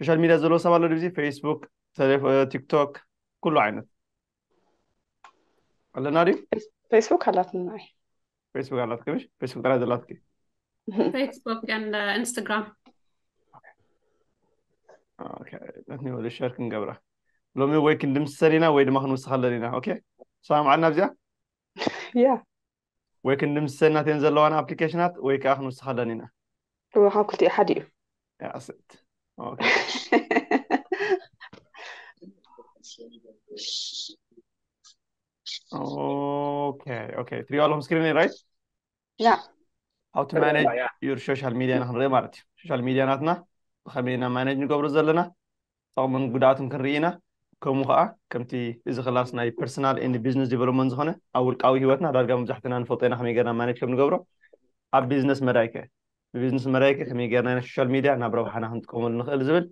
ሶሻል ሚድያ ዘለዎ ሰብ ኣሎ ድዚ ፌስቡክ ቲክቶክ ኩሉ ዓይነት ኣለና ድዩ ፌስቡክ ኣላትና ፌስቡክ ኣላትኪ ምሽ ፌስቡክ ጥራይ ዘላትኪ ፌስቡክ ኢንስታግራም ነትኒ ወደ ሸር ክንገብራ ሎሚ ወይ ክንድምስሰን ኢና ወይ ድማ ክንውስኻለን ኢና ኦኬ ሰላም ዓልና ኣብዚኣ ያ ወይ ክንድምስሰናት እየን ዘለዋና ኣፕሊኬሽናት ወይ ከዓ ክንውስኸለን ኢና እወ ካብ ክልቲኡ ሓደ እዩ ያስት ኦኬ ኦኬ ኦኬ ትሪኦ ኣለኹም ስክሪን ራይት ያ ሃው ቱ ማኔጅ ዩር ሶሻል ሚድያ ንክንርኢ ማለት እዩ ሶሻል ሚድያ ናትና ብከመይ ኢና ማኔጅ ንገብሮ ዘለና ጠቕምን ጉድኣቱን ክንርኢ ኢና። ከምኡ ከኣ ከምቲ እዚ ክላስ ናይ ፐርሰናል ኤንድ ቢዝነስ ዴቨሎፕመንት ዝኾነ ኣብ ውልቃዊ ሂወትና ዳርጋ መብዛሕትና ንፈልጦ ኢና ከመይ ጌርና ማኔጅ ከምንገብሮ። ኣብ ቢዝነስ መዳይ ከ? ብቢዝነስ መዳይ ከ ከመይ ጌርና ኢና ሶሻል ሚድያ ናብ ረብሓና ክንጥቀመሉ ንኽእል ዝብል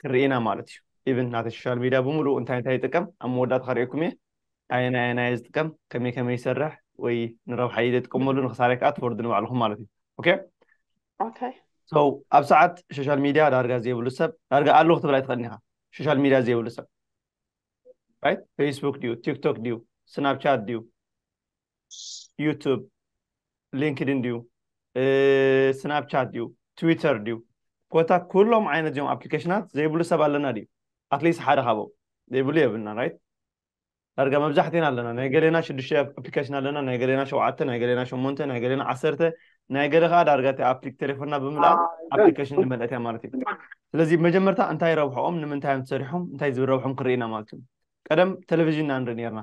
ክንርኢ ኢና ማለት እዩ። ኢቭን ናተይ ሶሻል ሚድያ ብምሉኡ እንታይ እንታይ ይጥቀም ኣብ መወዳእታ ከርእየኩም እየ። ኣየናይ ኣየናይ እየ ዝጥቀም ከመይ ከመይ ይሰርሕ ወይ ንረብሓ ኢለ ጥቀመሉ ንክሳራይ ከዓ ትፈርዱ ንባዕልኹም ማለት እዩ ኦኬ ኦኬ ሶ ኣብ ሰዓት ሶሻል ሚድያ ዳርጋ ዘይብሉ ሰብ ዳርጋ ኣሎ ክትብል ኣይትኽእልን ኢኻ ሶሻል ሚድያ ዘይብሉ ሰብ ራይት ፌስቡክ ድዩ ቲክቶክ ድዩ ስናፕቻት ድዩ ዩቱብ ሊንክድን ድዩ ስናፕቻት ድዩ ትዊተር ድዩ ኮታ ኩሎም ዓይነት እዚኦም ኣፕሊኬሽናት ዘይብሉ ሰብ ኣለና ድዩ ኣትሊስት ሓደ ካብኦም ዘይብሉ የብልና ራይት ዳርጋ መብዛሕትና ኣለና ናይ ገሌና ሽዱሽተ ኣፕሊኬሽን ኣለና ናይ ገሌና ሸውዓተ ናይ ገሌና ሸሞንተ ናይ ገሌና ዓሰርተ ናይ ገለ ከዓ ዳርጋ እቲ ኣፕሊክ ቴሌፎንና ብምልኣ ኣፕሊኬሽን ዝመልአት እያ ማለት እዩ ስለዚ መጀመርታ እንታይ ረብሖኦም ንምንታይ እዮም ተሰሪሖም እንታይ ዝረብሖም ክርኢና ማለት እዩ ቀደም ቴሌቭዥን ኢና ንርኢ ነርና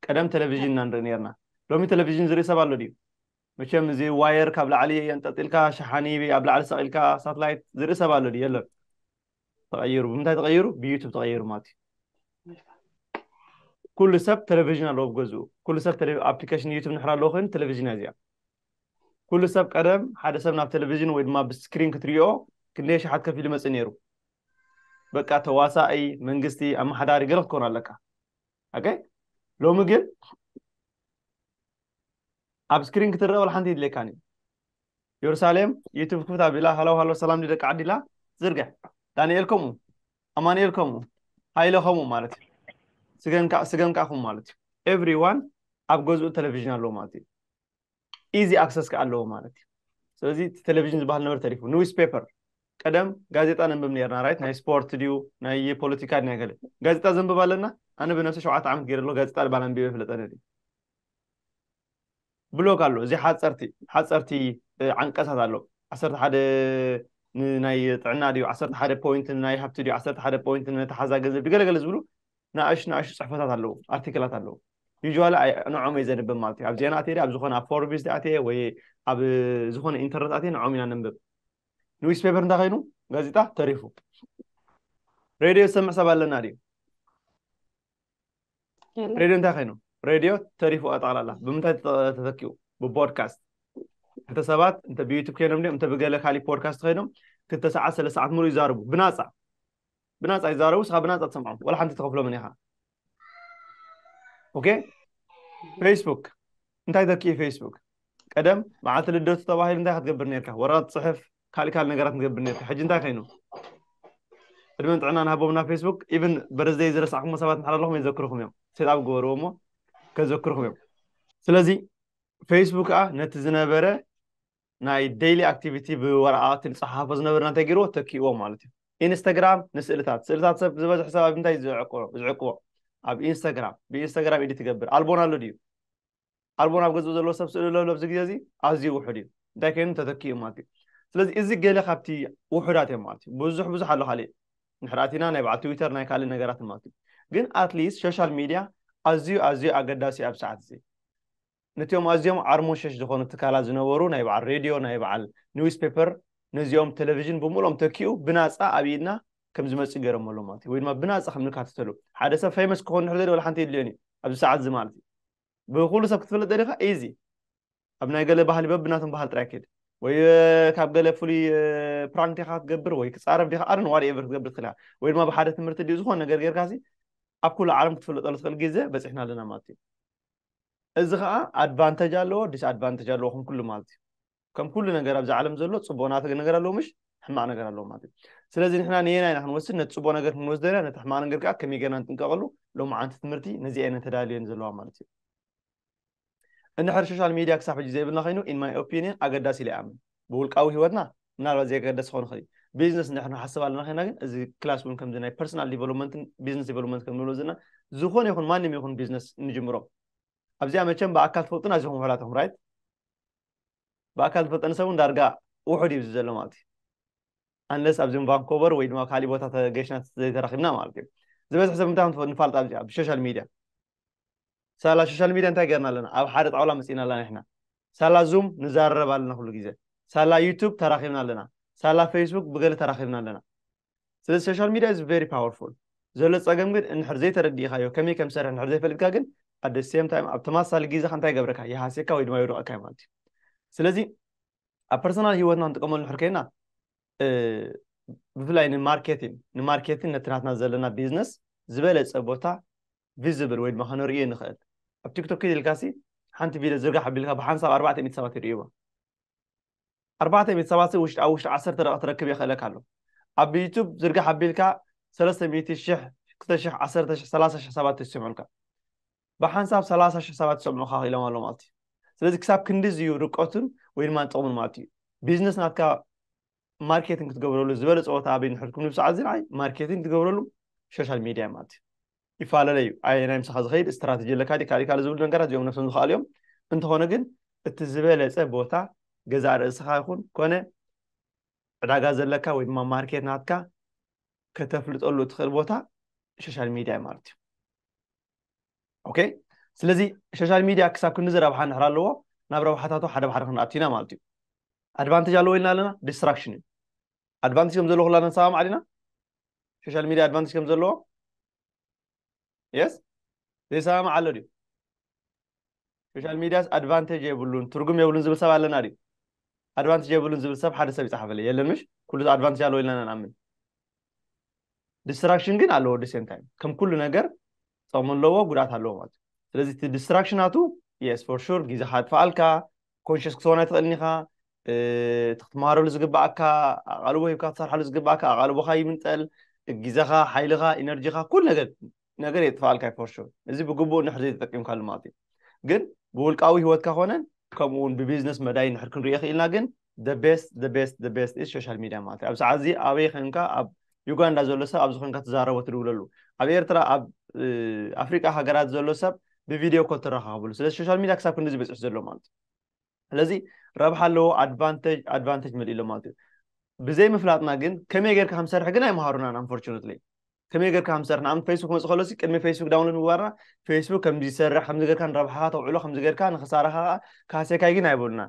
ቀደም ቴሌቭዥን ኢና ንርኢ ነርና ሎሚ ቴሌቭዥን ዝርኢ ሰብ ኣሎ ድዩ መቸም እዚ ዋየር ካብ ላዕሊ ኣንጠልጢልካ ሸሓኒ ኣብ ላዕሊ ሰቂልካ ሳትላይት ዝርኢ ሰብ ኣሎ ድዩ የለን ተቐይሩ ብምንታይ ተቐይሩ ብዩቱብ ተቐይሩ ማለት እዩ ኩሉ ሰብ ቴሌቭዥን ኣለዎ ብገዝኡ ኩሉ ሰብ ኣፕሊኬሽን ዩቱብ ንሕር ኣለዎ ኮይኑ ቴሌቭዥን እያ እዚኣ ኩሉ ሰብ ቀደም ሓደ ሰብ ናብ ቴሌቭዥን ወይ ድማ ብስክሪን ክትሪኦ ክንደይ ሸሓት ከፊሉ መፅእ ነይሩ በቃ ተዋሳኢ መንግስቲ ኣመሓዳሪ ገለ ክትኮን ኣለካ ኦኬ ሎሚ ግን ኣብ ስክሪን ክትረአ ወላ ሓንቲ የድልየካን እዩ የሩሳሌም ዩቱብ ክፍት ኣቢላ ሃሎ ሃሎ ሰላም ደቂ ዓዲ ኢላ ዝርግሕ ዳንኤል ከምኡ ኣማንኤል ከምኡ ሃይለ ከምኡ ማለት እዩ ስገም ከዓ ከምኡ ማለት እዩ ኤቭሪዋን ኣብ ገዝኡ ቴሌቭዥን ኣለዎ ማለት እዩ ኢዚ ኣክሰስ ከዓ ኣለዎ ማለት እዩ ስለዚ እቲ ቴሌቭዥን ዝበሃል ነበር ተሪፉ ኒውስ ፔፐር ቀደም ጋዜጣ ነንብብ ነርና ራይት ናይ ስፖርት ድዩ ናይ ፖለቲካ ናይ ገለ ጋዜጣ ዘንብብ ኣለና ኣነ ብነብሲ ሸውዓተ ዓመት ገይረ ኣሎ ጋዜጣ ባል ኣንቢበ ፍለጠነ ብሎግ ኣሎ እዚ ሓፀርቲ ሓፀርቲ ዓንቀሳት ኣሎ ዓሰርተ ሓደ ንናይ ጥዕና ድዩ ዓሰርተ ሓደ ፖይንት ንናይ ሃብቲ ድዩ ዓሰርተ ሓደ ፖይንት ንተሓዛ ገንዘብ ድዩ ገለገለ ዝብሉ ንኣሽቱ ንኣሽቱ ጽሕፈታት ኣለዉ፣ ኣርቲክላት ኣለዉ። ዩዥዋሊ ንዖም እየ ዘንብብ ማለት እዩ። ኣብ ዜና ኣትየ ኣብ ዝኾነ ኣብ ፎርቢስ ኣትየ ወይ ኣብ ዝኾነ ኢንተርነት ኣትየ ንዖም ኢና ነንብብ። ንዊስ ፔፐር እንታይ ኮይኑ ጋዜጣ ተሪፉ። ሬድዮ ዝሰምዕ ሰብ ኣለና ድዩ? ሬድዮ እንታይ ኮይኑ ሬድዮ ተሪፉ ኣጠቕላላ ብምንታይ ተተኪኡ? ብፖድካስት እንተ ሰባት እንተ ብዩቱብ ኮይኖም ድዮም እንተ ብገለ ካሊእ ፖድካስት ኮይኖም ክልተ ሰዓት ሰለስተ ሰዓት ሙሉእ ይዛርቡ ብናፃ ብናጻ ይዛረቡ ስኻ ብናጻ ትሰምዖም ወላ ሓንቲ ተኸፍሎምን ኢኻ ኦኬ ፌስቡክ እንታይ ተክኢ ፌስቡክ ቀደም መዓልቲ ልደቱ ተባሂሉ እንታይ ክትገብር ነርካ ወረቐት ፅሕፍ ካልእ ካልእ ነገራት ንገብር ነርካ ሕጂ እንታይ ኮይኑ ዕድመን ጥዕና ንሃቦምና ፌስቡክ ኢቨን በረዝደይ ዝረሳዕኩሞ ሰባት ንሓር ኣለኹም የዘክርኹም እዮም ሴጣብ ግበርዎ እሞ ከዘክርኹም እዮም ስለዚ ፌስቡክ ከዓ ነቲ ዝነበረ ናይ ደይሊ ኣክቲቪቲ ብወረቓቕቲ ንፀሓሓፎ ዝነበርና እንታይ ገይርዎ ተኪእዎ ማለት እዩ ኢንስታግራም ንስእልታት ስእልታት ሰብ ዝበዝሕ ሰብ ኣብ እንታይ ዝዕቅቦ ኣብ ኢንስታግራም ብኢንስታግራም ኢዲ ትገብር ኣልቦን ኣሎ ድዩ ኣልቦን ኣብ ገዝኡ ዘለዎ ሰብ ስእሊ ኣሎ ኣብዚ ግዜ እዚ ኣዝዩ ውሑድ እዩ እንታይ ኮይኑ ተተኪኡ ማለት እዩ ስለዚ እዚ ገለ ካብቲ ውሑዳት እዮም ማለት እዩ ብዙሕ ብዙሕ ኣሎ ካሊእ ንሕርኣቲና ናይ በዓል ትዊተር ናይ ካልእ ነገራት ማለት እዩ ግን ኣትሊስት ሶሻል ሚድያ ኣዝዩ ኣዝዩ ኣገዳሲ ኣብ ሰዓት እዚ ነቲኦም ኣዝዮም ዓርሞሸሽ ዝኾኑ ትካላት ዝነበሩ ናይ በዓል ሬድዮ፣ ናይ በዓል ኒውስ ፔፐር፣ ነዚኦም ተለቪዥን ብምልኦም ተኪኡ ብናጻ ኣብ ኢድና ከም ዝመጽእ ገይሮሞ ኣለዉ ማለት እዩ። ወይ ድማ ብናጻ ከም ንካተተሉ። ሓደ ሰብ ፌመስ ክኾን እንድሕር ደልዩ ዋላ ሓንቲ የድልዮን እዩ። ኣብዚ ሰዓት እዚ ማለት እዩ። ብኹሉ ሰብ ክትፍለጥ ደሊኻ ኢዚ። ኣብ ናይ ገለ ባህሊ በብናቶም ባህሊ ጥራይ ኪድ። ወይ ካብ ገለ ፍሉይ ፕራንክ ዲኻ ክትገብር ወይ ክጻረፍ ዲኻ ኣርን ዋት ኤቨር ክትገብር ትኽእል ኢኻ። ወይ ድማ ብሓደ ትምህርቲ ድዩ ዝኾነ ነገር ጌርካሲ ኣብ ኩሉ ዓለም ክትፍለጠሉ ትኽእል ጊዘ በጺሕና ኣለና ማለት እዩ። እዚ ኸኣ ኣድቫንተጅ ኣለዎ ዲስ ኣድቫንተጅ ኣለዎ ከም ኩሉ ማለት እዩ ከም ኩሉ ነገር ኣብዚ ዓለም ዘሎ ፅቡቅ ናተ ነገር ኣለዎ ምሽ ሕማቅ ነገር ኣለዎ ማለት እዩ ስለዚ ንሕና ንየናይ ኢና ክንወስድ ነቲ ፅቡቅ ነገር ክንወስዶ ኢና ነቲ ሕማቅ ነገር ከዓ ከመይ ገርና ንጥንቀቀሉ ሎሚ ዓንቲ ትምህርቲ ነዚ ኣይነን ተዳልዮን ዘለዋ ማለት እዩ እንድሕር ሶሻል ሚድያ ክሳብ ሕጂ ዘይብልና ኮይኑ ኢን ማይ ኦፒኒየን ኣገዳሲ ኢለ ይኣምን ብውልቃዊ ሂወትና ምናልባት ዘይገደስ ክኸውን ይኽእል እዩ ቢዝነስ ንሕና ንሓስብ ኣለና ኸይና ግን እዚ ክላስ እውን ከምዚ ናይ ፐርሰናል ዲቨሎፕመንትን ቢዝነስ ዲቨሎፕመንት ከም ንብሎ ዘለና ዝኾነ ይኹን ማንም ይኹን ቢዝነስ ንጅምሮ ኣብዚኣ መቸም ብኣካል ትፈልጡን ኣዚኹም ውሑዳት ኢኹም ራይት ብኣካል ዝፈልጠኒ ሰብ እውን ዳርጋ ውሑድ እዩ ዘሎ ማለት እዩ ኣንለስ ኣብዚም ቫንኮቨር ወይ ድማ ካሊእ ቦታ ተገሽና ዘይተራኺብና ማለት እዩ ዝበዝሕ ሰብ እንታይ ንፋልጥ ኣብዚኣ ብሶሻል ሚድያ ሳላ ሾሻል ሚድያ እንታይ ገርና ኣለና ኣብ ሓደ ጣውላ መጺእና ኣለና ንሕና ሳላ ዙም ንዛረረብ ኣለና ኩሉ ግዜ ሳላ ዩቱብ ተራኪብና ኣለና ሳላ ፈይስቡክ ብገለ ተራኪብና ኣለና ስለዚ ሾሻል ሚድያ ኢዝ ቨሪ ፓወርፉል ዘሎ ጸገም ግን እንድሕር ዘይተረዲእካዮ ከመይ ከም ዝሰርሕ እንድሕር ዘይፈልጥካ ግን ኣደ ሴም ታይም ኣብ ተመሳሳሊ ግዜኻ እንታይ ገብረካ ይሃስየካ ወይ ድማ የውድቐካ እዩ ማለት እዩ ስለዚ ኣብ ፐርሰናል ሂወትና ንጥቀመሉ ንሕር ኮይና ብፍላይ ንማርኬቲን ንማርኬቲን ነቲ ናትና ዘለና ቢዝነስ ዝበለፀ ቦታ ቪዝብል ወይ ድማ ከነርእዮ ንኽእል ኣብ ቲክቶክ ኪድ ኢልካሲ ሓንቲ ቪድዮ ዝርጋሕ ኣቢልካ ብሓንሳብ ኣርባዕተ ሚእቲ ሰባት ይርእይዋ ኣርባዕተ ሚእቲ ሰባት ኣብ ውሽጢ ዓሰርተ ደቂቕ ትረክብ የኽእለካ ኣሎ ኣብ ዩቱብ ዝርጋሕ ኣቢልካ ሰለስተ ሚእቲ ሽሕ ክልተ ሽሕ ዓሰርተ ሽሕ ሰላሳ ሽሕ ሰባት ይስምዑልካ ብሓንሳብ ሰላሳ ሽሕ ሰባት ይሰምዑኻ ክኢሎም ኣሎ ማለት እዩ ስለዚ ክሳብ ክንዲዚ እዩ ርቀቱን ወይ ድማ ጥቕሙን ማለት እዩ ቢዝነስ ናትካ ማርኬቲንግ ክትገብረሉ ዝበለፀ ቦታ ኣበይ ንሕልኩም ንብስ ዓዚ ንዓይ ማርኬቲንግ ትገብረሉ ሶሻል ሚድያ ማለት እዩ ይፈላለለ እዩ ኣየ ናይ ምሳኻ ዝኸይድ ስትራቴጂ ኣለካ ዲ ካልእ ካልእ ዝብሉ ነገራት እዚኦም ነብሶም ዝኸኣሉ እዮም እንተኾነ ግን እቲ ዝበለፀ ቦታ ገዛእ ርእስኻ ይኹን ኮነ ዕዳጋ ዘለካ ወይ ድማ ማርኬት ናትካ ከተፍልጠሉ እትኽእል ቦታ ሶሻል ሚድያ ማለት እዩ ኦኬ ስለዚ ሶሻል ሚድያ ክሳብ ክንዲ ረብሓ ንሕር ኣለዎ ናብ ረብሓታቱ ሓደ ብሓደ ክንኣቱ ኢና ማለት እዩ ኣድቫንቴጅ ኣለዎ ኢልና ኣለና ዲስትራክሽን እዩ ኣድቫንቴጅ ከም ዘለዎ ኩላና ንሰማማዕ ዲና ሶሻል ሚድያ ኣድቫንቴጅ ከም ዘለዎ የስ ዘይሰማማዕ ኣሎ ድዩ ሶሻል ሚድያስ ኣድቫንቴጅ የብሉን ትርጉም የብሉን ዝብል ሰብ ኣለና ድዩ ኣድቫንቴጅ የብሉን ዝብል ሰብ ሓደ ሰብ ይፅሓፈለይ የለን ምሽ ኩሉ ኣድቫንቴጅ ኣለዎ ኢልና ንኣምን ዲስትራክሽን ግን ኣለዎ ዲሴም ታይም ከም ኩሉ ነገር ጥቕሚ ኣለዎ ጉድኣት ኣለዎ ማለት እዩ ስለዚ እቲ ዲስትራክሽናቱ የስ ፎር ሹር ግዜ ካጥፍኣልካ ኮንሽስ ክትኾን ኣይትኽእልን ኢኻ እቲ ክትመሃረሉ ዝግባኣካ ኣቓልቦ ሂብካ ትሰርሓሉ ዝግባኣካ ኣቓልቦኻ ይምንጠል ግዜኻ ሓይልኻ ኢነርጂኻ ኩሉ ነገር ነገር የጥፋኣልካ እዩ ፎርሹር እዚ ብግቡእ ንሕር ዘይተጠቂምካሉ ማለት እዩ ግን ብውልቃዊ ሂወትካ ኮነን ከምኡ እውን ብቢዝነስ መዳይ ንሕር ክንሪኦ ክኢልና ግን ቤስት ቤስት ቤስት ኢዝ ሶሻል ሚድያ ማለት እዩ ኣብ ሰዓት እዚ ኣበይ ኮንካ ኣብ ዩጋንዳ ዘሎ ሰብ ኣብዚ ኮንካ ትዛረቦ ትድውለሉ ኣብ ኤርትራ ኣብ ኣፍሪቃ ሃገራት ዘሎ ሰብ ብቪድዮ ኮል ትረኻኸብሉ ስለዚ ሶሻል ሚድያ ክሳብ ክንዲዚ በፂሑ ዘሎ ማለት እዩ ስለዚ ረብሓ ኣለዎ ኣድቫንተጅ ኣድቫንተጅ መሊኡ ኣሎ ማለት እዩ ብዘይ ምፍላጥና ግን ከመይ ጌርካ ከም ሰርሕ ግን ኣይምሃሩናን ኣንፎርቹነትሊ ከመይ ጌርካ ከም ሰርሕ ንኣብነት ፌስቡክ መፅ ከሎሲ ቅድሚ ፌስቡክ ዳውንሎድ ምግባርና ፌስቡክ ከምዚ ዝሰርሕ ከምዚ ጌርካ ንረብሓኻ ተውዕሎ ከምዚ ጌርካ ንክሳራኻ ከዓ ካሴካይ ግን ኣይበሉና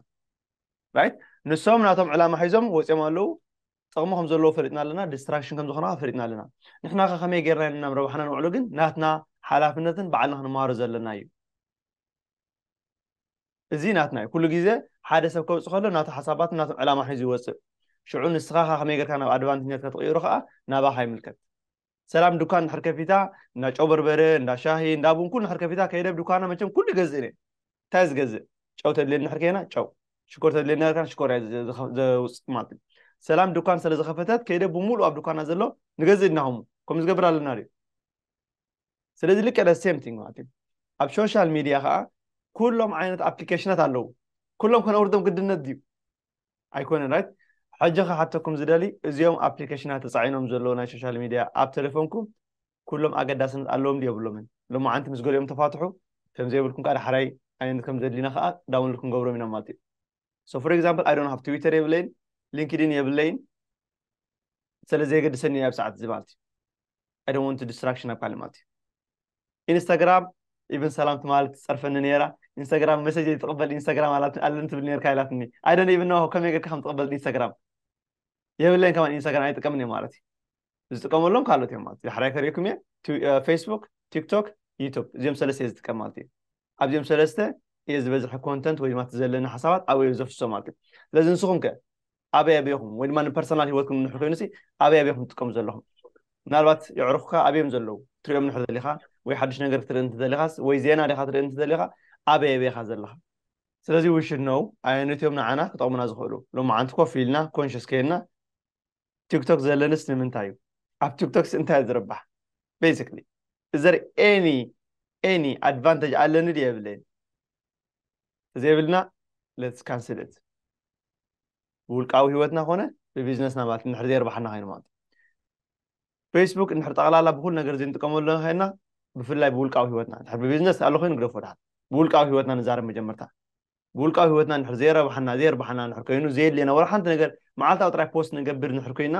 ራይት ንሶም ናቶም ዕላማ ሒዞም ወፂኦም ኣለዉ ጥቕሚ ከም ዘለዎ ፈሊጥና ኣለና ዲስትራክሽን ከም ዝኾና ፈሊጥና ኣለና ንሕና ከ ከመይ ጌርና ኢና ናብ ረብሓና ንውዕሎ ግን ናትና ሓላፍነትን ባዕልና ክንመሃሮ ዘለና እዩ እዚ ናትና እዩ ኩሉ ግዜ ሓደ ሰብ ከውጽእ ከሎ ናቱ ሓሳባትን ናቱን ዕላማ ሒዙ ይወጽእ ሽዑ ንስኻ ከ ከመይ ጌርካ ናብ ኣድቫንትኛት ከትቕይሮ ከኣ ናባኻ ይምልከት ሰላም ዱካን እንድሕር ከፊታ እንዳ ጨው በርበረ እንዳ ሻሂ እንዳ ቡን ኩሉ እንድሕር ከፊታ ከይደ ብዱካና መቸም ኩሉ ይገዝእ እኔ እንታይ ዝገዝእ ጨው ተድልየኒ እንድሕር ከይና ጨው ሽኮር ተድልየኒ እንድሕር ከይና ሽኮር እያ ዘውጽእ ማለት እዩ ሰላም ዱካን ስለ ዝኸፈተት ከይደ ብምሉእ ኣብ ዱካና ዘሎ ንገዝእ ድናኹም ከምኡ ዝገብር ኣለና ድዩ ስለዚ ልክዕ the same thing ማለት እዩ ኣብ ሶሻል ሚድያ ከዓ ኩሎም ዓይነት ኣፕሊኬሽናት ኣለዉ ኩሎም ከነውርዶም ግድነት ድዩ ኣይኮነን ራይት ሕጂ ክሓተኩም ዝደሊ እዚኦም ኣፕሊኬሽናት ተፃዒኖም ዘለዉ ናይ ሶሻል ሚድያ ኣብ ቴሌፎንኩም ኩሎም ኣገዳስነት ኣለዎም ድዩ የብሎምን ሎማዓንቲ ምስ ገሊኦም ተፋትሑ ከምዘይብልኩም ከዓ ዳሕራይ ዓይነት ከም ዘድልዩና ከዓ ዳውንሎድ ክንገብሮም ኢና ማለት እዩ so for example i don't have twitter የብለይን linkedin የብለይን ስለ ዘየገድሰኒ ኣብ ሰዓት እዚ ማለት እዩ i don't want to distraction ኣብ ካልእ ማለት እዩ ኢንስታግራም ኢቨን ሰላም ትማል ትፀርፈኒ ነይራ ኢንስታግራም መሰጅ ትቕበል ኢንስታግራም ኣለኒ ትብል ነርካ ኢላትኒ ኣይደን ኢቨን ኖ ከመይ ጌርካ ከም ትቕበል ኢንስታግራም የብለይን ከማን ኢንስታግራም ኣይጥቀምን እየ ማለት እዩ ዝጥቀመሎም ካልኦት እዮም ማለት ዳሕራይ ከሪእኩም እየ ፌስቡክ ቲክቶክ ዩቱብ እዚኦም ሰለስተ እየ ዝጥቀም ማለት እዩ ኣብዚኦም ሰለስተ እየ ዝበዝሐ ኮንተንት ወይ ድማ እቲ ዘለኒ ሓሳባት ኣበይ ዘፍሶ ማለት እዩ ስለዚ ንስኹም ከ ኣበይ ኣበይኹም ወይ ድማ ንፐርሰናል ሂወትኩም ንሕ ኮይኑ ኣበይ ኣበይኹም ትጥቀሙ ዘለኹም ምናልባት የዕሩኽካ ኣብዮም ዘለዉ ትሪኦም ንሕ ዘሊኻ ወይ ሓድሽ ነገር ክትርኢ እንተዘሊኻስ ወይ ዜና ዲኻ ትርኢ እንተዘሊኻ ኣበይ ኣበይኻ ዘለኻ ስለዚ we should know ኣየኖት እዮም ንዓና ክጠቕሙና ዝኽእሉ። ሎማዓንቲ ኮፍ ኢልና conscious ኴንና ቲክቶክ ዘለንስ ንምንታይ እዩ? ኣብ ቲክቶክስ እንታይ እየ ዝርባሕ? Basically is there any any advantage ኣለኒ ድየ የብለይን? ተዘይብልና let's cancel it ብውልቃዊ ህይወትና ኮነ ብቢዝነስና ማለት እንድሕር ዘየርባሓና ኮይኑ ማለት እዩ። ፌስቡክ እንድሕር ጠቕላላ ብኹሉ ነገር እዚ ንጥቀመሉ ዘለና ዄንና ብፍላይ ብውልቃዊ ህይወትና እንድሕር ብቢዝነስ ኣሎ ኮይኑ ግደፎ ድሓር ብውልቃዊ ህይወትና ንዛረብ መጀመርታ ብውልቃዊ ህይወትና እንድሕር ዘየረብሓና ዘየርብሓና እንድሕር ኮይኑ ዘየድልየና ወላ ሓንቲ ነገር መዓልታዊ ጥራይ ፖስት ንገብር እንድሕር ኮይና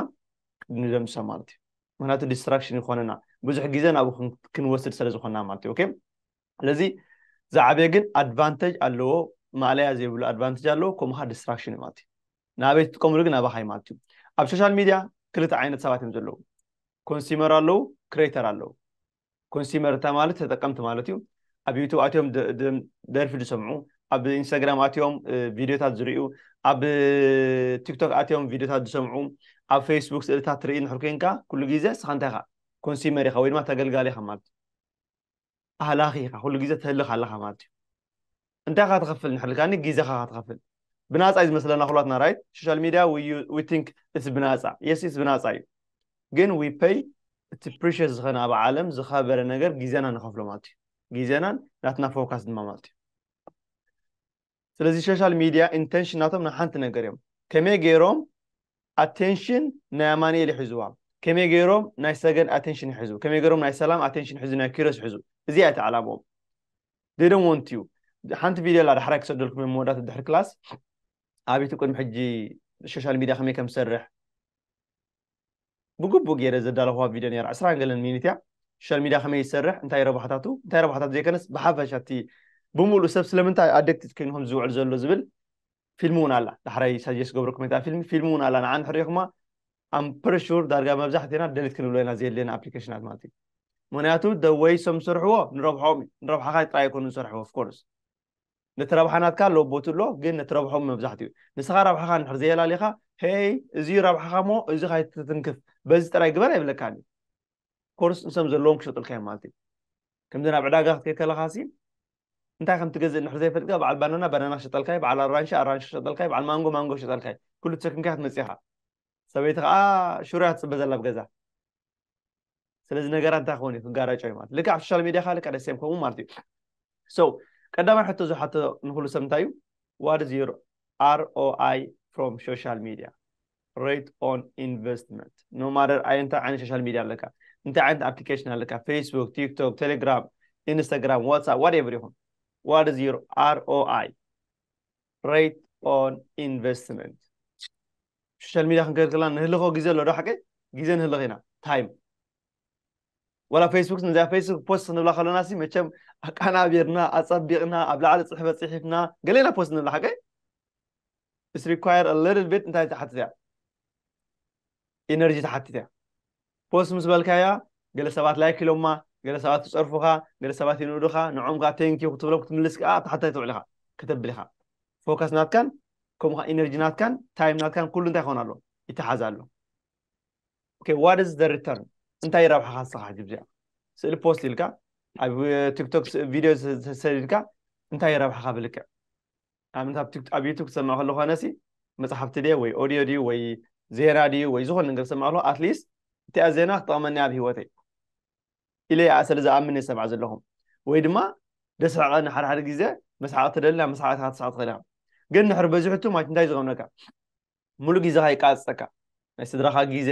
ንደምስሳ ማለት እዩ ምክንያቱ ዲስትራክሽን ይኾነና ብዙሕ ግዜ ናብኡ ክንወስድ ስለ ዝኾንና ማለት እዩ ኦኬ ስለዚ ዝዓበየ ግን ኣድቫንተጅ ኣለዎ ማእለያ ዘይብሉ ኣድቫንተጅ ኣለዎ ከምኡ ከዓ ዲስትራክሽን እዩ ማለት እዩ ንኣበይ ትጥቀምሉ ግን ኣባካ እዩ ማለት እዩ ኣብ ሶሻል ሚድያ ክልተ ዓይነት ሰባት እዮም ዘለዉ ኮንሱመር ኣለዉ ክሬተር ኣለዉ ኮንሱመር እንታይ ማለት ተጠቀምቲ ማለት እዩ ኣብ ዩቱብ ኣትዮም ደርፊ ዝሰምዑ ኣብ ኢንስታግራም ኣትዮም ቪድዮታት ዝርእዩ ኣብ ቲክቶክ ኣትዮም ቪድዮታት ዝሰምዑ ኣብ ፌስቡክ ስእልታት ትርኢ ንሕር ኮይንካ ኩሉ ግዜ ንስኻ እንታይ ኢኻ ኮንሱመር ኢኻ ወይ ድማ ተገልጋሊ ኢኻ ማለት እዩ ኣህላኺ ኢኻ ኩሉ ግዜ ትህልኽ ኣለኻ ማለት እዩ እንታይ ኢኻ ትኸፍል ንሕር ኢልካኒ ግዜኻ ኢኻ ትኸፍል ብናፃ እዩ ዝመስለና ኩላትና ራይት ሶሻል ሚድያ ዊ ቲንክ እትስ ብናፃ የስ እትስ ብናፃ እዩ ግን ዊ ፐይ እቲ ፕሪሽስ ዝኾነ ኣብ ዓለም ዝኸበረ ነገር ግዜና ንኸፍሎ ማለት እዩ ግዜናን ናትና ፎካስ ድማ ማለት እዩ ስለዚ ሾሻል ሚድያ ኢንተንሽን ናቶም ናይ ሓንቲ ነገር እዮም ከመይ ገይሮም ኣቴንሽን ናይ ኣማኒኤል ይሕዝዋ ከመይ ገይሮም ናይ ሰገን ኣቴንሽን ይሕዙ ከመይ ገይሮም ናይ ሰላም ኣቴንሽን ይሕዙ ናይ ኪሮስ ይሕዙ እዚኣ እቲ ዕላምኦም they don't want you ሓንቲ ቪድዮ ኣላ ዳሕራይ ክሰደልኩም እዮም መወዳእታ ድሕሪ ክላስ ኣቤቱ ቅድሚ ሕጂ ሶሻል ሚድያ ከመይ ከም ዝሰርሕ ብግቡእ ገይረ ዘዳለኹዋ ቪድዮ ነይራ ዕስራን ገለን ሚኒት እያ ሶሻል ሚድያ ከመይ ይሰርሕ እንታይ ረብሓታቱ እንታይ ረብሓታቱ ዘይከነስ ብሓፈሻ እቲ ብምሉእ ሰብ ስለምንታይ ኣደክትት ኮይኑ ከም ዝውዕል ዘሎ ዝብል ፊልም እውን ኣላ ዳሕራይ ሳጀስ ገብረኩም እታ ፊልም ፊልም እውን ኣላ ንዓን ሕሪኹማ ኣም ፕሪሹር ዳርጋ መብዛሕትና ደሊት ክንብሎ ኢና ዘየድልየና ኣፕሊኬሽናት ማለት እዩ ምክንያቱ ደወይ ሰም ዝሰርሕዎ ንረብሖም ንረብሓኻ ጥራይ ኣይኮኑ ዝሰርሕዎ ኦፍኮርስ ነቲ ረብሓ ናትካ ኣሎ ቦቲ ኣሎ ግን ነቲ ረብሖም መብዛሕትኡ ንስኻ ረብሓኻ እንድሕር ዘየላሊኻ ሄይ እዚዩ ረብሓኻ እሞ እዚ ካይትትንክፍ በዚ ጥራይ ግበር ኣይብለካን እዩ ኮርስ ንሶም ዘለዎም ክሸጡልካ እዮም ማለት እዩ ከምዚ ናብ ዕዳጋ ክትከይ ከለኻ ሲ እንታይ ከም ትገዝእ እንድሕር ዘይፈልጥካ በዓል ባናና ባናና ክሸጠልካ እዩ በዓል ኣራንሺ ኣራንሺ ክሸጠልካ እዩ በዓል ማንጎ ማንጎ ክሸጠልካ እዩ ኩሉ ተሰኪምካ ክትመፅእ ኢኻ ሰበይቲ ከዓ ሽሮ እያ ትፅበ ዘላ ኣብ ገዛ ስለዚ ነገራት እንታይ ክኾን እዩ ክጋራጮ እዩ ማለት ልክዕ ኣብ ሶሻል ሚድያ ከ ልክዕ ደሴም ከምኡ ማለት እዩ ሶ ቀዳማይ ሕቶ ዝሓቶ ንኩሉ ሰብ እንታይ እዩ ዋት ኢዝ ዩር ኣርኦኣይ ፍሮም ሶሻል ሚድያ ሬት ኦን ኢንቨስትመንት ኖ ማደር ኣይ እንታይ ዓይነት ሶሻል ሚድያ ኣለካ እንታይ ዓይነት ኣፕሊኬሽን ኣለካ ፌስቡክ ቲክቶክ ቴሌግራም ኢንስታግራም ዋትሳፕ ዋት ኤቨር ይኹን ዋት ኢዝ ዩር ኣርኦኣይ ሬት ኦን ኢንቨስትመንት ሶሻል ሚድያ ክንከይድ ከለና ንህልኾ ግዜ ኣሎ ዶ ሓቂ ግዜ ንህልኽ ኢና ታይም ወላ ፌስቡክ ነዛ ፌስቡክ ፖስት ክንብላ ከለና ሲ መቸም ኣቃናቢርና ኣፀቢቕና ኣብ ላዕሊ ፅሕፈት ፅሒፍና ገሌና ፖስት ንብላ ሓቂ ኢስ ሪኳየር ሊትል ቢት እንታይ ትሓትት እያ ኢነርጂ ትሓትት እያ ፖስት ምስ በልካያ ገለ ሰባት ላይክ ኢሎማ ገለ ሰባት ይጸርፉኻ ገለ ሰባት ይንእዱኻ ንዖም ከኣ ቴንክ ዩ ክትብሎም ክትምልስ ከኣ ተሓታይ ትውዕል ኢኻ ከተብል ኢኻ ፎከስ ናትካን ከምኡ ኢነርጂ ናትካን ታይም ናትካን ኩሉ እንታይ ክኾን ኣሎ ይተሓዝ ኣሎ ኦኬ ዋት ኢዝ ዘ ሪተርን እንታይ ይረብሓኻ ንስኻ ሕጂ ብዚኣ ስእሊ ፖስት ኢልካ ኣብ ቲክቶክ ቪድዮ ሰዲድካ እንታይ ይረብሓኻ ብልክዕ ኣብነት ኣብቲ ኣብ ዩቱብ ክትሰምዕ ከለኹ ኣነሲ መጽሓፍቲ ድየ ወይ ኦድዮ ድዩ ወይ ዜና ድዩ ወይ ዝኾነ ነገር ክሰምዕ ከለኹ ኣትሊስት እቲኣ ዜና ክጠቕመኒ ኣብ ሂወተይ ኢለ እያ ስለ ዝኣምን እየ ሰምዓ ዘለኹ ወይ ድማ ደስሕቐኒ ሓደ ሓደ ግዜ መስሓቕ ትደሊ ናብ መስሓቕ ኢኻ ክትስሕቕ ትኽእል ኢኻ ግን ንሕሪ በዚሑቱ ማለት እንታይ ዝገብነካ ሙሉእ ጊዘኻ ይቃጸጸካ ናይ ስድራኻ ጊዘ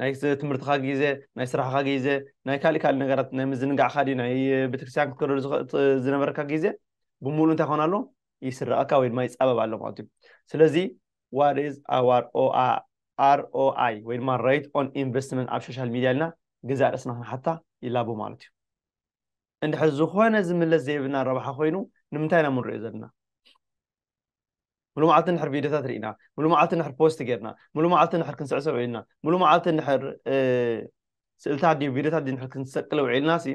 ናይ ትምህርትኻ ጊዘ ናይ ስራሕኻ ጊዘ ናይ ካልእ ካልእ ነገራት ናይ ምዝንጋዕካ ድዩ ናይ ቤተክርስትያን ክትከደሉ ዝነበረካ ጊዘ ብሙሉ እንታይ ኮን ኣሎ ይስረቐካ ወይ ድማ ይጻበብ ኣሎ ማለት እዩ ስለዚ ዋት ኢዝ ኣዋር ኦኣይ ወይ ድማ ሬት ኦን ኢንቨስትመንት ኣብ ሶሻል ሚድያ ኢልና ገዛእ ርእስና ክንሓታ ይላቦ ማለት እዩ እንድሕር ዝኾነ ዝምለስ ዘይብልና ረብሓ ኮይኑ ንምንታይ ኢና ምንሪኦ ዘለና ሙሉእ መዓልቲ ንሕር ቪድዮታት ርኢና ሙሉእ መዓልቲ ንሕር ፖስት ጌርና ሙሉእ መዓልቲ ንሕር ክንስዕስዕ ውዒልና ሙሉእ መዓልቲ ንሕር ስእልታት ድዩ ቪድዮታት ድዩ ንሕር ክንሰቅል ውዒልና ሲ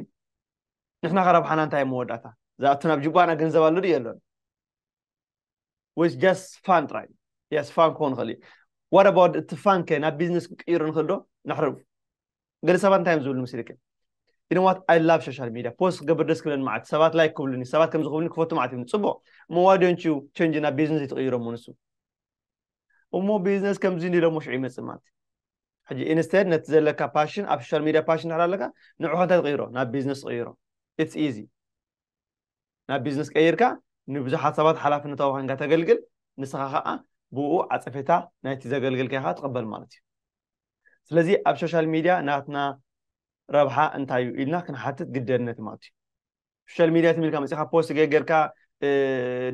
ንሕና ከረብሓና እንታይ መወዳእታ ዝኣቱ ናብ ጅባና ገንዘብ ኣሎ ድዩ የሎን ወይስ ጃስት ፋን ጥራይ የስ ፋን ክኸውን ይኽእል እዩ ዋት ኣባውት እቲ ፋን ከ ናብ ቢዝነስ ክንቅይሮ ንኽእል ዶ ንሕር ገለ ሰባት እንታይ እዮም ዝብሉ ምስልክ ኢንዋት ኣይ ላቭ ሶሻል ሚድያ ፖስት ክገብር ደስ ክብለኒ ማለት ሰባት ላይክ ክብሉኒ ሰባት ከም ዝኽብሉኒ ክፈቱ ማለት እዩ ፅቡቕ እሞ ዋዶንቹ ቸንጅ ናብ ቢዝነስ ይትቕይሮ እሞ ንሱ እሞ ቢዝነስ ከምዚ እንዲ ሎሞ ሽዑ ይመፅእ ማለት ሕጂ ኢንስተድ ነቲ ዘለካ ፓሽን ኣብ ሶሻል ሚድያ ፓሽን ድሕር ኣለካ ንዑ ከንታይ ትቕይሮ ናብ ቢዝነስ ትቕይሮ ኢትስ ኢዚ ናብ ቢዝነስ ቀይርካ ንብዙሓት ሰባት ሓላፍነታዊ ኮንካ ተገልግል ንስኻ ከዓ ብኡ ዓፀፌታ ናይቲ ዘገልገልካ ኢኻ ትቕበል ማለት እዩ ስለዚ ኣብ ሶሻል ሚድያ ናትና ረብሓ እንታይ እዩ ኢልና ክንሓትት ግደነት ማለት እዩ ሶሻል ሚድያ ትም ኢልካ መፅኻ ፖስት ገገርካ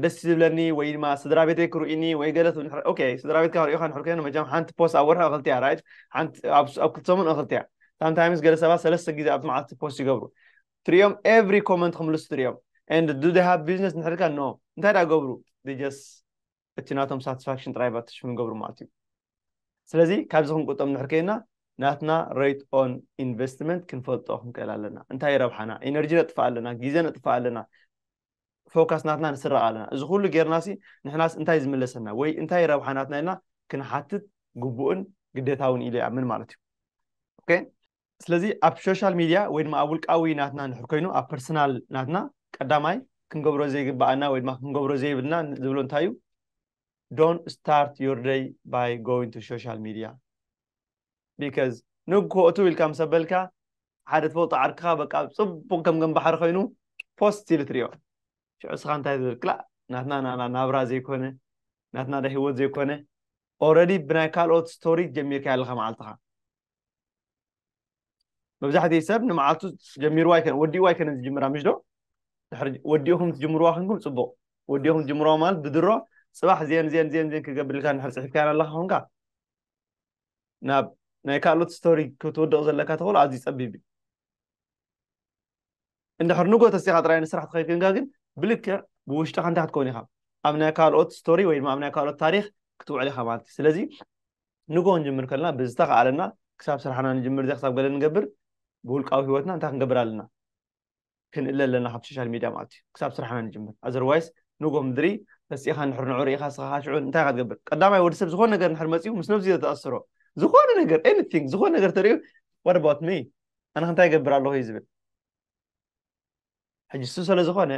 ደስ ዝብለኒ ወይ ድማ ስድራ ቤተይ ክርእኒ ወይ ገለ ትብል ኦኬ ስድራ ቤትካ ክርእዩካ ንሕር ኮይኑ መቸም ሓንቲ ፖስት ኣብ ወርሒ እኽልቲ እያ ራይት ሓንቲ ኣብ ክልተ ሰሙን እኽልቲ እያ ሳምታይምስ ገለ ሰባት ሰለስተ ግዜ ኣብ መዓልቲ ፖስት ይገብሩ ትሪኦም ኤቭሪ ኮመንት ክምልሱ ትሪኦም ኤንድ ዱ ሃብ ቢዝነስ ንሕርካ ኖ እንታይ ዳ ገብሩ ጀስ እቲ ናቶም ሳትስፋክሽን ጥራይ ብ ኣትሽፍ ንገብሩ ማለት እዩ ስለዚ ካብዚ ክንቁጠም ንድሕር ከይና ናትና ሬት ኦን ኢንቨስትመንት ክንፈልጦ ክንክእል ኣለና እንታይ እዩ ረብሓና ኢነርጂ ነጥፍእ ኣለና ግዜ ነጥፍእ ኣለና ፎካስ ናትና ንስረቕ ኣለና እዚ ኩሉ ጌርና ሲ ንሕናስ እንታይ ዝምለሰና ወይ እንታይ እዩ ረብሓ ናትና ኢልና ክንሓትት ግቡእን ግዴታውን ኢለ ይኣምን ማለት እዩ ኦኬ ስለዚ ኣብ ሶሻል ሚድያ ወይ ድማ ኣብ ውልቃዊ ናትና እንድሕር ኮይኑ ኣብ ፐርሰናል ናትና ቀዳማይ ክንገብሮ ዘይግብኣና ወይ ድማ ክንገብሮ ዘይብልና ዝብሎ እንታይ እዩ ዶን ስታርት ዮር ደይ ባይ ጎይን ቱ ሶሻል ሚድያ ቢካዝ ንግሆእቱ ኢልካ ምስ ኣበልካ ሓደ ትፈልጦ ዓርክኻ በቃ ፅቡቕ ከም ገም ባሕሪ ኮይኑ ፖስት ኢሉ ትሪኦ ሽዑ ስኻ እንታይ ትብል ክላእ ናትና ናብራ ዘይኮነ ናትና ዳ ሂወት ዘይኮነ ኦረዲ ብናይ ካልኦት ስቶሪ ጀሚርካ ኣለኻ መዓልትኻ መብዛሕትኡ ሰብ ንመዓልቱ ጀሚርዋ ኣይከነን ወዲእዋ ኣይከነን ዝጅምራ ምሽ ዶ ድሕሪ ወዲእኹም ትጅምርዋ ክንኩም ፅቡቕ ወዲእኹም ትጅምርዋ ማለት ብድሮ ፅባሕ ዜን ዜን ዜን ዜን ክገብር ኢልካ ንድሕር ፅሒፍካያን ኣለካ ኮንካ ናብ ናይ ካልኦት ስቶሪ ክትውድቕ ዘለካ ተኽእሎ ኣዝዩ ፀቢብ እዩ እንድሕር ንግሆ ተሲኻ ጥራይ ንስራሕ ተኸይክንካ ግን ብልክዕ ብውሽጥኻ እንታይ ክትከውን ኢኻ ኣብ ናይ ካልኦት ስቶሪ ወይ ድማ ኣብ ናይ ካልኦት ታሪኽ ክትውዕል ኢኻ ማለት እዩ ስለዚ ንግሆ ንጅምር ከለና ብዝተኸኣለና ክሳብ ስራሕና ንጅምር ዘ ክሳብ ገለ ንገብር ብውልቃዊ ህይወትና እንታይ ክንገብር ኣለና ክንእለ ኣለና ካብ ሶሻል ሚድያ ማለት እዩ ክሳብ ስራሕና ንጅምር ኣዘርዋይስ ንግሆ ምድሪ ተሲእኻ ንድሕር ንዑ ርኢኻ ስኻ ካሽዑ እንታይ ኢኻ ትገብር ቀዳማይ ወዲ ሰብ ዝኾነ ነገር ንድሕር መፅኡ ምስ ነብዚ ዘተኣስሮ ዝኾነ ነገር ኤኒቲንግ ዝኾነ ነገር ተሪኡ ዋት ኣባውት ሚ ኣነ ከ እንታይ ይገብር ኣለኹ እዩ ዝብል ሕጂ እሱ ስለ ዝኾነ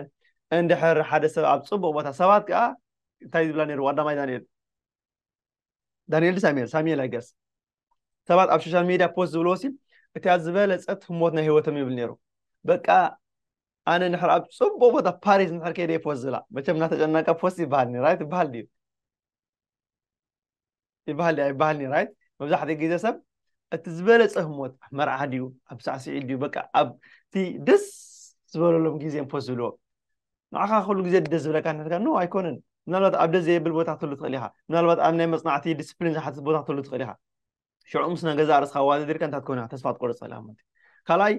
እንድሕር ሓደ ሰብ ኣብ ፅቡቕ ቦታ ሰባት ከዓ እንታይ ዝብላ ነይሩ ዋዳማይ ዳንኤል ዳንኤል ሳሙኤል ሳሙኤል ኣይገስ ሰባት ኣብ ሶሻል ሚድያ ፖስት ዝብልዎ ሲ እቲያ ዝበለፀት ህሞት ናይ ህይወቶም ይብል ነይሩ በቃ ኣነ ንሕር ኣብ ፅቡቕ ቦታ ፓሪስ ንሕር ከይደ ፖስት ዝብላ መቸም እናተጨናቀ ፖስት ይበሃል ራይት ይበሃል ድዩ ይበሃል ድያ ይበሃልኒ ራይት መብዛሕትኡ ግዜ ሰብ እቲ ዝበለፀ ህሞት መርዓ ድዩ ኣብ ሳዕስዒት ድዩ በቃ ኣብቲ ደስ ዝበለሎም ግዜ ፖስ ዝብልዎ ንዓኻ ኩሉ ግዜ ደስ ዝብለካ ንሕትካ ኖ ኣይኮነን ምናልባት ኣብ ደስ ዘየብል ቦታ ትህሉ ትኽእል ኢኻ ምናልባት ኣብ ናይ መፅናዕቲ ዲስፕሊን ዝሓትት ቦታ ትህሉ ትኽእል ኢኻ ሽዑ ምስ ናይ ገዛ ርእስኻ ዋዘዲርካ እንታይ ትኮነ ተስፋ ትቆርፅ ትኽእል ኢኻ ማለት ካልኣይ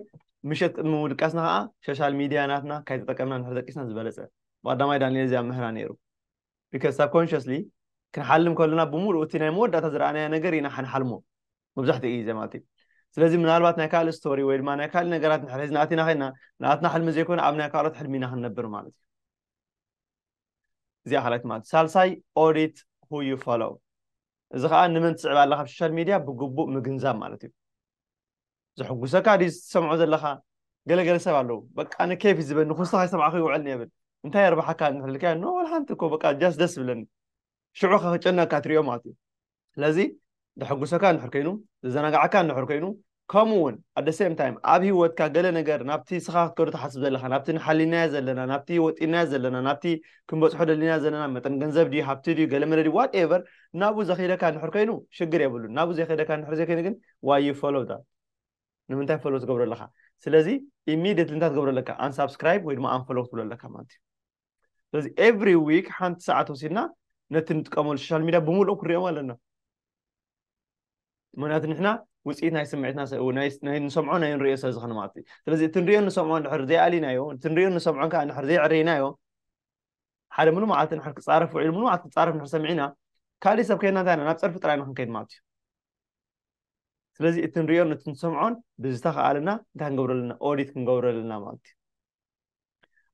ምሸት ቅድሚ ምድቃስና ከዓ ሶሻል ሚድያ ናትና ካይተጠቀምና ንሕደቂስና ዝበለፀ ብቀዳማይ ዳንኤል እዚኣ ምህራ ነይሩ because subconsciously ክንሓልም ከሎና ብምሉኡ እቲ ናይ መወዳእታ ዝረኣናዮ ነገር ኢና ሓንሓልሞ መብዛሕትኡ ግዜ ማለት እዩ ስለዚ ምናልባት ናይ ካልእ ስቶሪ ወይ ድማ ናይ ካልእ ነገራት ንሕር ሒዝና ኣቲና ከይና ንኣትና ሕልሚ ዘይኮነ ኣብ ናይ ካልኦት ሕልሚ ኢና ክንነብር ማለት እዩ እዚኣ ካልኣይቲ ማለት ሳልሳይ ኦዲት ሁ ዩ ፎሎው እዚ ከዓ ንመን ትስዕብ ኣለካ ኣብ ሶሻል ሚድያ ብግቡእ ምግንዛብ ማለት እዩ ዘሕጉሰካ ድዩ ዝሰምዖ ዘለካ ገለገለ ሰብ ኣለው በቃ ንኬፍ ዝበኒ ኩስኻ ይሰምዓኹ ይውዕል ንየብል እንታይ የርባሓካ ንሕልካዮ ኖ ወላ ሓንቲ እኮ በቃ ጃስ ደስ ዝብለኒ ሽዑ ከ ክጨነካ ትሪኦ ማለት እዩ ስለዚ ዘሐጉሰካ እንድሕር ኮይኑ ዘዘናጋዓካ እንድሕር ኮይኑ ከምኡ እውን ኣደ ሴም ታይም ኣብ ሂወትካ ገለ ነገር ናብቲ ስኻ ክትከዶ ትሓስብ ዘለካ ናብቲ ንሓሊናዮ ዘለና ናብቲ ወጢናዮ ዘለና ናብቲ ክንበፅሖ ደሊና ዘለና መጠን ገንዘብ ድዩ ሃብቲ ድዩ ገለ መለ ድዩ ዋት ኤቨር ናብኡ ዘኽይደካ እንድሕር ኮይኑ ሽግር የብሉን ናብኡ ዘይከይደካ እንድሕር ዘይኮይኑ ግን ዋይ ዩ ፎሎው ዳት ንምንታይ ፎሎው ትገብሮ ኣለካ ስለዚ ኢሚድትሊ እንታይ ትገብሮ ኣለካ ኣንሳብስክራይብ ወይ ድማ ኣንፎሎው ክትብሎ ኣለካ ማለት እዩ ስለዚ ኤቭሪ ዊክ ሓንቲ ሰዓት ወሲድና ነቲ ንጥቀመሉ ሶሻል ሚድያ ብምሉእ ክንሪኦም ኣለና ምክንያቱ ንሕና ውፅኢት ናይ ስምዒትና ንሰምዖ ናይ ንሪኦ ስለ ዝኾነ ማለት እዩ ስለዚ እቲ ንሪኦ ንሰምዖ ድሕር ዘይኣሊናዮ እቲ ንሪኦ ንሰምዖን ከዓ ንድሕር ዘይዕረይናዮ ሓደ ምሉ መዓልቲ ንድሕር ክፃረፍ ውዒሉ ምሉ መዓልቲ ክፃረፍ ንድሕር ሰሚዕና ካልእ ሰብ ከይና እንታይ ናብ ፀርፊ ጥራይ ንክንከይድ ማለት እዩ ስለዚ እቲ ንሪኦን እቲ ንሰምዖን ብዝተኸኣለና እንታይ ክንገብሮ ኣለና ኦዲት ክንገብሮ ኣለና ማለት እዩ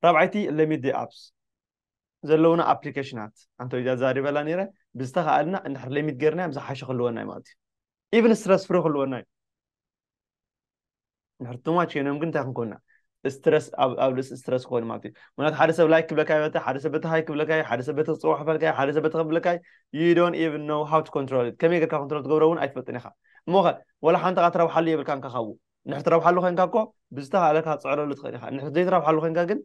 ራብዓይቲ ለሚድ ኣፕስ ዘለውና ኣፕሊኬሽናት ኣንተ ዛ ዛሪበላ ነይረ ብዝተኸኣልና እንድሕር ለሚድ ገርናዮም ዝሓሸ ክልወና ማለት እዩ ኢቨን ስትረስ ፍሪ ክልወና እዩ ድሕሪ ትማች ኮይኖም ግን እንታይ ክንኮና ስትረስ ኣብ ርእሲ ስትረስ ክኾኑ ማለት እዩ ምክንያቱ ሓደ ሰብ ላይክ ክብለካ ይበታ ሓደ ሰብ በቲ ሃይ ክብለካ ሓደ ሰብ በቲ ክፅዋሕፈልካ ሓደ ሰብ በቲ ከብለካ you don't even know how to control it ከመይ ጌርካ ኮንትሮል ትገብሮ እውን ኣይትፈልጥን ኢኻ እሞ ኸ ወላ ሓንቲ ካ ትረብሓሉ የብልካን ካ ካብኡ ንሕ ትረብሓሉ ኮንካ እኮ ብዝተኻእለካ ትፅዕረሉ ትኽእል ኢኻ ንሕ ዘይትረብሓሉ ኮንካ ግን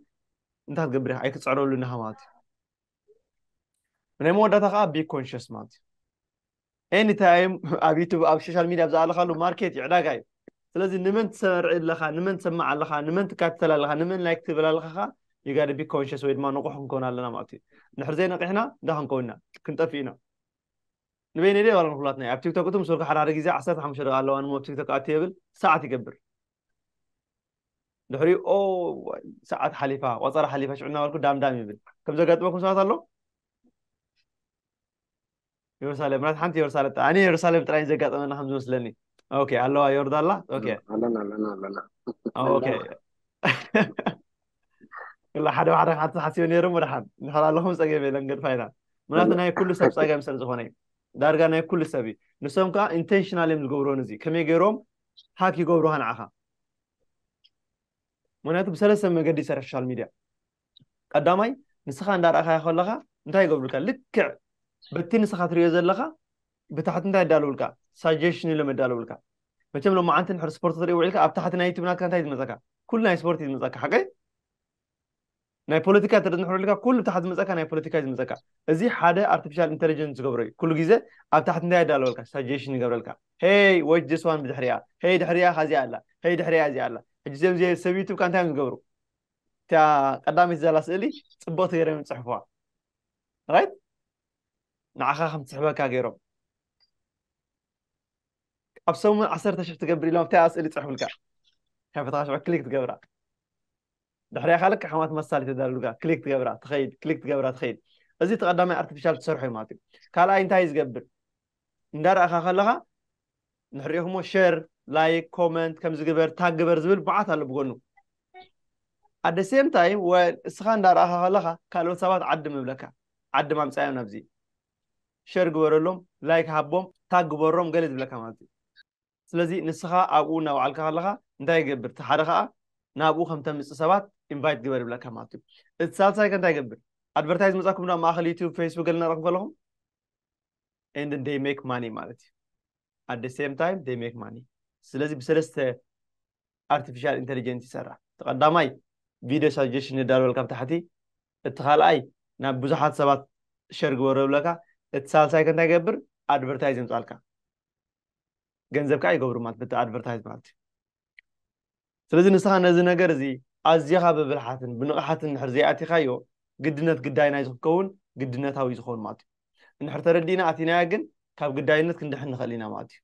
እንታይ ክትገብር ኢኻ ኣይክፅዕረሉን ኢኻ ማለት እዩ ናይ መወዳእታ ከዓ ቢ ኮንሽስ ማለት እዩ ኤኒ ታይም ኣብ ዩቱብ ኣብ ሶሻል ሚድያ ብዝኣለኻሉ ማርኬት እዩ ዕዳጋ እዩ ስለዚ ንመን ትሰርዒ ኣለኻ ንመን ትሰማዕ ኣለኻ ንመን ትካትተል ኣለኻ ንመን ላይክ ትብል ኣለኻ ከዓ ይጋደ ቢ ኮንሽስ ወይ ድማ ንቑሕ ክንከውን ኣለና ማለት እዩ ንድሕር ዘይነቂሕና እንዳ ክንከውን ኢና ክንጠፍእ ኢና ንበይነይ ደይ ዋላ ንኩላትና ኣብ ቲክቶክ እቶም ሱርካ ሓደ ሓደ ግዜ ዓሰርተ ሓሙሽተ ደቂ ኣለዋ ንሞ ኣብ ቲክቶክ ኣት የብል ሰዓት ይገብር ድሕሪኡ ኦ ሰዓት ሓሊፋ ቆፀራ ሓሊፋ ሽዑ እናበልኩ ዳምዳም ይብል ከም ዘጋጥመኩም ሰባት ኣሎ የሩሳሌም ምናት ሓንቲ የሩሳሌም ኣነ የሩሳሌም ጥራይ ዘጋጠመና ከም ዝመስለኒ ኦኬ ኣለዋ የርዳ ኣላ ኦኬ ኣለና ኣለና ኣለና ኦኬ ክላ ሓደ ሓደ ሓንቲ ሓሲበ ነይረ እሞ ድሓን ንሕር ኣለኹም ፀገም የለን ገድፋ ኢና ምክንያቱ ናይ ኩሉ ሰብ ፀገም ስለ ዝኾነ እዩ ዳርጋ ናይ ኩሉ ሰብ እዩ ንሶም ከዓ ኢንቴንሽናል እዮም ዝገብሩን እዚ ከመይ ገይሮም ሃክ ይገብሩኻ ንዓኻ ምክንያቱ ብሰለስተ መገዲ ይሰርሕ ሶሻል ሚድያ ቀዳማይ ንስኻ እንዳረእኻዮ ከለኻ እንታይ ይገብሩልካ ልክዕ በቲ ንስኻ ትሪኦ ዘለኻ ብታሕቲ እንታይ ይዳለውልካ ሳጀሽን ኢሎም የዳለውልካ መቸም ሎማዓንቲ ንሕር ስፖርት ትርኢ ውዒልካ ኣብ ታሕቲ ናይ ዩቱብ ናትካ እንታይ ዝመፀካ ኩሉ ናይ ስፖርት እዩ ዝመፀካ ሓቀይ ናይ ፖለቲካ እንተ ንሕረልካ ኩሉ ታሕቲ ዝመፀካ ናይ ፖለቲካ እዩ ዝመፀካ እዚ ሓደ ኣርቲፊሻል ኢንተሊጀንስ ዝገብሮ እዩ ኩሉ ግዜ ኣብ ታሕቲ እንታይ ኣዳለወልካ ሳጀሽን ይገብረልካ ሄይ ዎች ዚስ ዋን ብድሕሪኣ ሄይ ድሕሪኣ ካዚኣ ኣላ ሄይ ድሕሪኣ እዚኣ ኣላ ሕጂ እዚኦም እዚ ሰብ ዩቱብ ካ እንታይ እዮም ዝገብሩ እታ ቀዳመይቲ ዘላ ስእሊ ፅብቕቲ ገይሮም ፅሕፍዋ ራይት ንዓኻ ከም ትስሕበካ ገይሮም ኣብ ሰሙን ዓሰርተ ሽሕ ትገብር ኢሎም ኣብታ ስእሊ ፅሕፍልካ ከፈትካ ሽዑ ክሊክ ትገብራ ድሕሪኣ ከኣ ልክዕ ከምታ መሳሊት ተዳልሉካ ክሊክ ትገብራ ትኸይድ ክሊክ ትገብራ ትኸይድ እዚ እቲ ቀዳማይ ኣርቲፊሻል ትሰርሖ እዩ ማለት እዩ ካልኣይ እንታይ እዩ ዝገብር እንዳረኣኻ ከለኻ ንሕሪኢኹሞ ሸር ላይክ ኮመንት ከምዚ ግበር ታግ ግበር ዝብል ብዓት ኣሎ ብጎኑ ኣደ ሴም ታይም እስኻ እንዳረኣኻ ከለኻ ካልኦት ሰባት ዓዲ ምብለካ ዓዲ ማምፃዮም ናብዚ ሸር ግበረሎም ላይክ ሃቦም ታግ ግበሮም ገለ ዝብለካ ማለት እዩ ስለዚ ንስኻ ኣብኡ እናውዓልካ ከለኻ እንታይ ይገብር? እቲ ሓደ ከኣ ናብኡ ከም ተምጽእ ሰባት ኢንቫይት ግበር ይብለካ ማለት እዩ። እቲ ሳልሳይ ከ እንታይ ይገብር? ኣድቨርታይዝ መጻኩም ኣብ ማእከል ዩቱብ ፌስቡክ ገለ እናረኣኹም ከለኹም and then they make money ማለት እዩ። at the same time they make money ስለዚ ብሰለስተ ኣርቲፊሻል ኢንተሊጀንት ይሰርሕ። እቲ ቀዳማይ ቪድዮ ሳጀሽን የዳልወልካ ኣብ ታሕቲ፣ እቲ ካልኣይ ናብ ብዙሓት ሰባት ሸር ግበሮ ይብለካ፣ እቲ ሳልሳይ ከ እንታይ ይገብር? ኣድቨርታይዝ የምጻልካ። ገንዘብ ከኣ ይገብሩ ማለት በቲ ኣድቨርታይዝ ማለት እዩ ስለዚ ንስኻ ነዚ ነገር እዚ ኣዝኻ ብብልሓትን ብንቕሓትን ንድሕር ዘይኣቲኻዮ ግድነት ግዳይ ናይ ዝክከውን ግድነታዊ ዝኸውን ማለት እዩ እንድሕር ተረዲእና ኣቲናያ ግን ካብ ግዳይነት ክንድሕን ንኽእል ኢና ማለት እዩ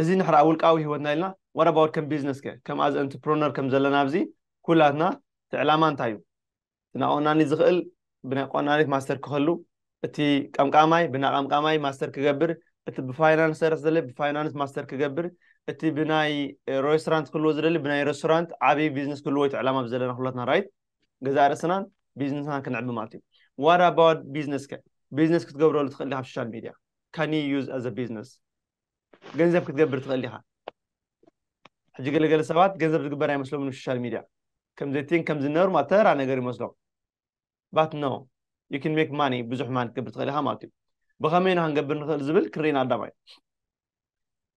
እዚ ንሕር ኣብ ውልቃዊ ህይወትና ኢልና ዋት ኣባውት ከም ቢዝነስ ከ ከም ኣዝ ኤንትርፕረነር ከም ዘለና ኣብዚ ኩላትና እቲ ዕላማ እንታይ እዩ እቲ ናቆናኒ ዝኽእል ብናቆናኒት ማስተር ክኸሉ እቲ ቀምቃማይ ብናቀምቃማይ ማስተር ክገብር እቲ ብፋይናንስ ሰረት ዘለ ብፋይናንስ ማስተር ክገብር እቲ ብናይ ሬስቶራንት ክልዎ ዝደሊ ብናይ ሬስቶራንት ዓብዪ ቢዝነስ ክልዎ እቲ ዕላማ ብዘለና ኩላትና ራይት ገዛ ርእስናን ቢዝነስና ክንዕቢ ማለት እዩ ዋት ኣባውት ቢዝነስ ከ ቢዝነስ ክትገብረሉ ትኽእል ዲኻ ሶሻል ሚድያ ካን ዩ ዩዝ ኣዘ ቢዝነስ ገንዘብ ክትገብር ትኽእል ዲኻ? ሕጂ ገለ ገለ ሰባት ገንዘብ ዝግበር ኣይመስሎምን ብ ሶሻል ሚድያ ከም ዘቲን ከም ዝነብር ማለት ተራ ነገር ይመስሎም ባት ኖው ዩ ኪን ሜክ ማኒ ብዙሕ ማኒ ክትገብር ትኽእል ኢኻ ማለት ዩ ብኸመይ ኢና ክንገብር ንኽእል ዝብል ክሪን ኣዳማይ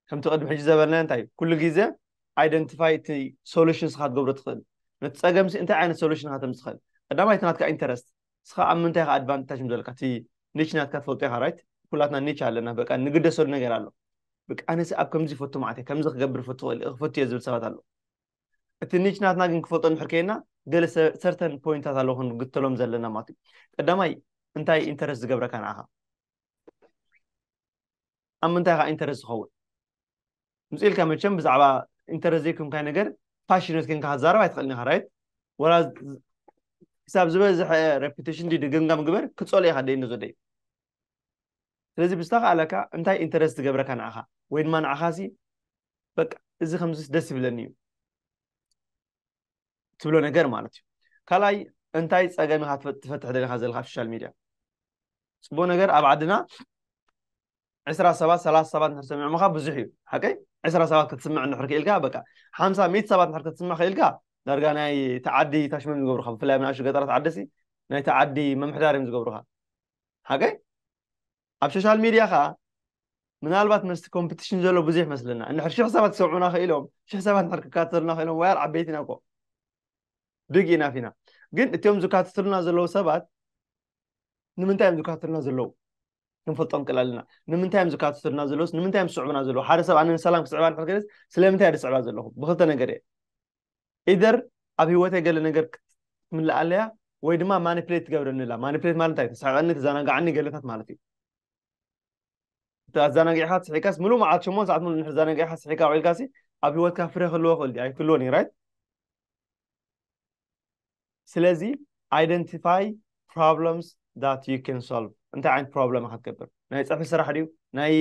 ከምቲ ቅድሚ ሕጂ ዘበልና እንታይ ዩ ኩሉ ግዜ ኣይደንቲፋይ እቲ ሶሉሽን ስኻ ትገብሮ ትኽእል ነቲ ጸገምሲ እንታይ ዓይነት ሶሉሽን ኢኻ ተምጽእ ትኽእል ቀዳማይ እቲ ናትካ ኢንተረስት ንስኻ ኣብ ምንታይ ኢኻ ኣድቫንታጅ ዘለካ እቲ ኒች ናትካ ትፈልጦ ኢኻ ራይት ኩላትና ኒች ኣለና በቃ ንግደሰሉ ነገር ኣሎ በቃ ኣነሲ ኣብ ከምዚ ይፈቱ መዓት እየ ከምዚ ክገብር ፈቱ ክእል ክፈቱ እየ ዝብል ሰባት ኣሎ እቲ ኒች ናትና ግን ክፈልጦ እንድሕር ከይና ገለ ሰርተን ፖይንታት ኣለዉ ክንግተሎም ዘለና ማለት እዩ ቀዳማይ እንታይ ኢንተረስት ዝገብረካ ንዓኻ ኣብ ምንታይ ኢኻ ኢንተረስት ዝኸውን ምጽእ ኢልካ መቸም ብዛዕባ ኢንተረስት ዘይኮንካይ ነገር ፓሽነት ኮንካ ክትዛረብ ኣይትኽእልን ኢኻ ራይት ወላ ክሳብ ዝበዝሐ ሬፑቴሽን ድዩ ድግምጋም ግበር ክጸልኦ ኢኻ ደይ ንዞደይ ስለዚ ብዝተኸኣለካ እንታይ ኢንተረስት ዝገብረካ ንዓኻ ወይ ድማ ንዓኻሲ በቃ እዚ ከምዚስ ደስ ይብለኒ እዩ ትብሎ ነገር ማለት እዩ ካልኣይ እንታይ ፀገም ኢካ ትፈትሕ ደለካ ዘለካ ኣብ ሶሻል ሚድያ ፅቡቅ ነገር ኣብ ዓድና ዕስራ ሰባት ሰላሳ ሰባት እንድሕር ሰሚዖምካ ብዙሕ እዩ ሓቀይ ዕስራ ሰባት ክትስምዕ እንድሕር ክኢልካ በቃ ሓምሳ ሚእቲ ሰባት እንድሕር ክትስምዕ ክኢልካ ዳርጋ ናይ ተዓዲ ታሽመም ዝገብሩካ ብፍላይ ኣብ ንኣሽቱ ገጠራት ዓዲ ሲ ናይ ተዓዲ ምምሕዳር እዮም ዝገብሩካ ሓቀይ ኣብ ሾሻል ሚድያ ከኣ ምናልባት መስቲ ኮምፕትሽን ዘሎ ብዙሕ ይመስለና እንድሕር ሽሕ ሰባት ክሰምዑና ክኢሎም ሽሕ ሰባት እንድሕር ክካተተሉና ክኢሎም ወያር ዓበይቲ ኢና እኮ ብግ ኢና ፊና ግን እትዮም ዝካተትሉና ዘለዉ ሰባት ንምንታይ እዮም ዝካተትሉና ዘለዉ ክንፈልጦም ክእል ኣለና ንምንታይ እዮም ዝካተትሉና ዘለዉስ ንምንታይ እዮም ዝስዕቡና ዘለዉ ሓደ ሰብ ኣነ ንሰላም ክስዕባ ንሕር ክልስ ስለምንታይ ድስዕባ ዘለኹም ብክልተ ነገር እየ Either ኣብ ሂወተይ ገለ ነገር ክትምልእ ኣለያ ወይ ድማ ማኒፕሌት ትገብረኒ ኣላ ማኒፕሌት ማለት እንታይ ተስሕቀኒ ተዘናጋዓኒ ገለታት ማለት እዩ ኣዘናጊዕካ ትስሒካስ ምሉእ መዓልቲ ሸሞን ሰዓት ምሉእ ንድሕር ዘናጊዕካ ስሒካ ውዒልካሲ ኣብ ሂወትካ ፍረ ክህልዎ ክእል ኣይክህልዎን እዩ ራይት ስለዚ ኣይደንቲፋይ ፕሮብለምስ ዳት ዩ ካን ሶልቭ እንታይ ዓይነት ፕሮብለም ኢካ ትገብር ናይ ፅሑፊ ስራሕ ድዩ ናይ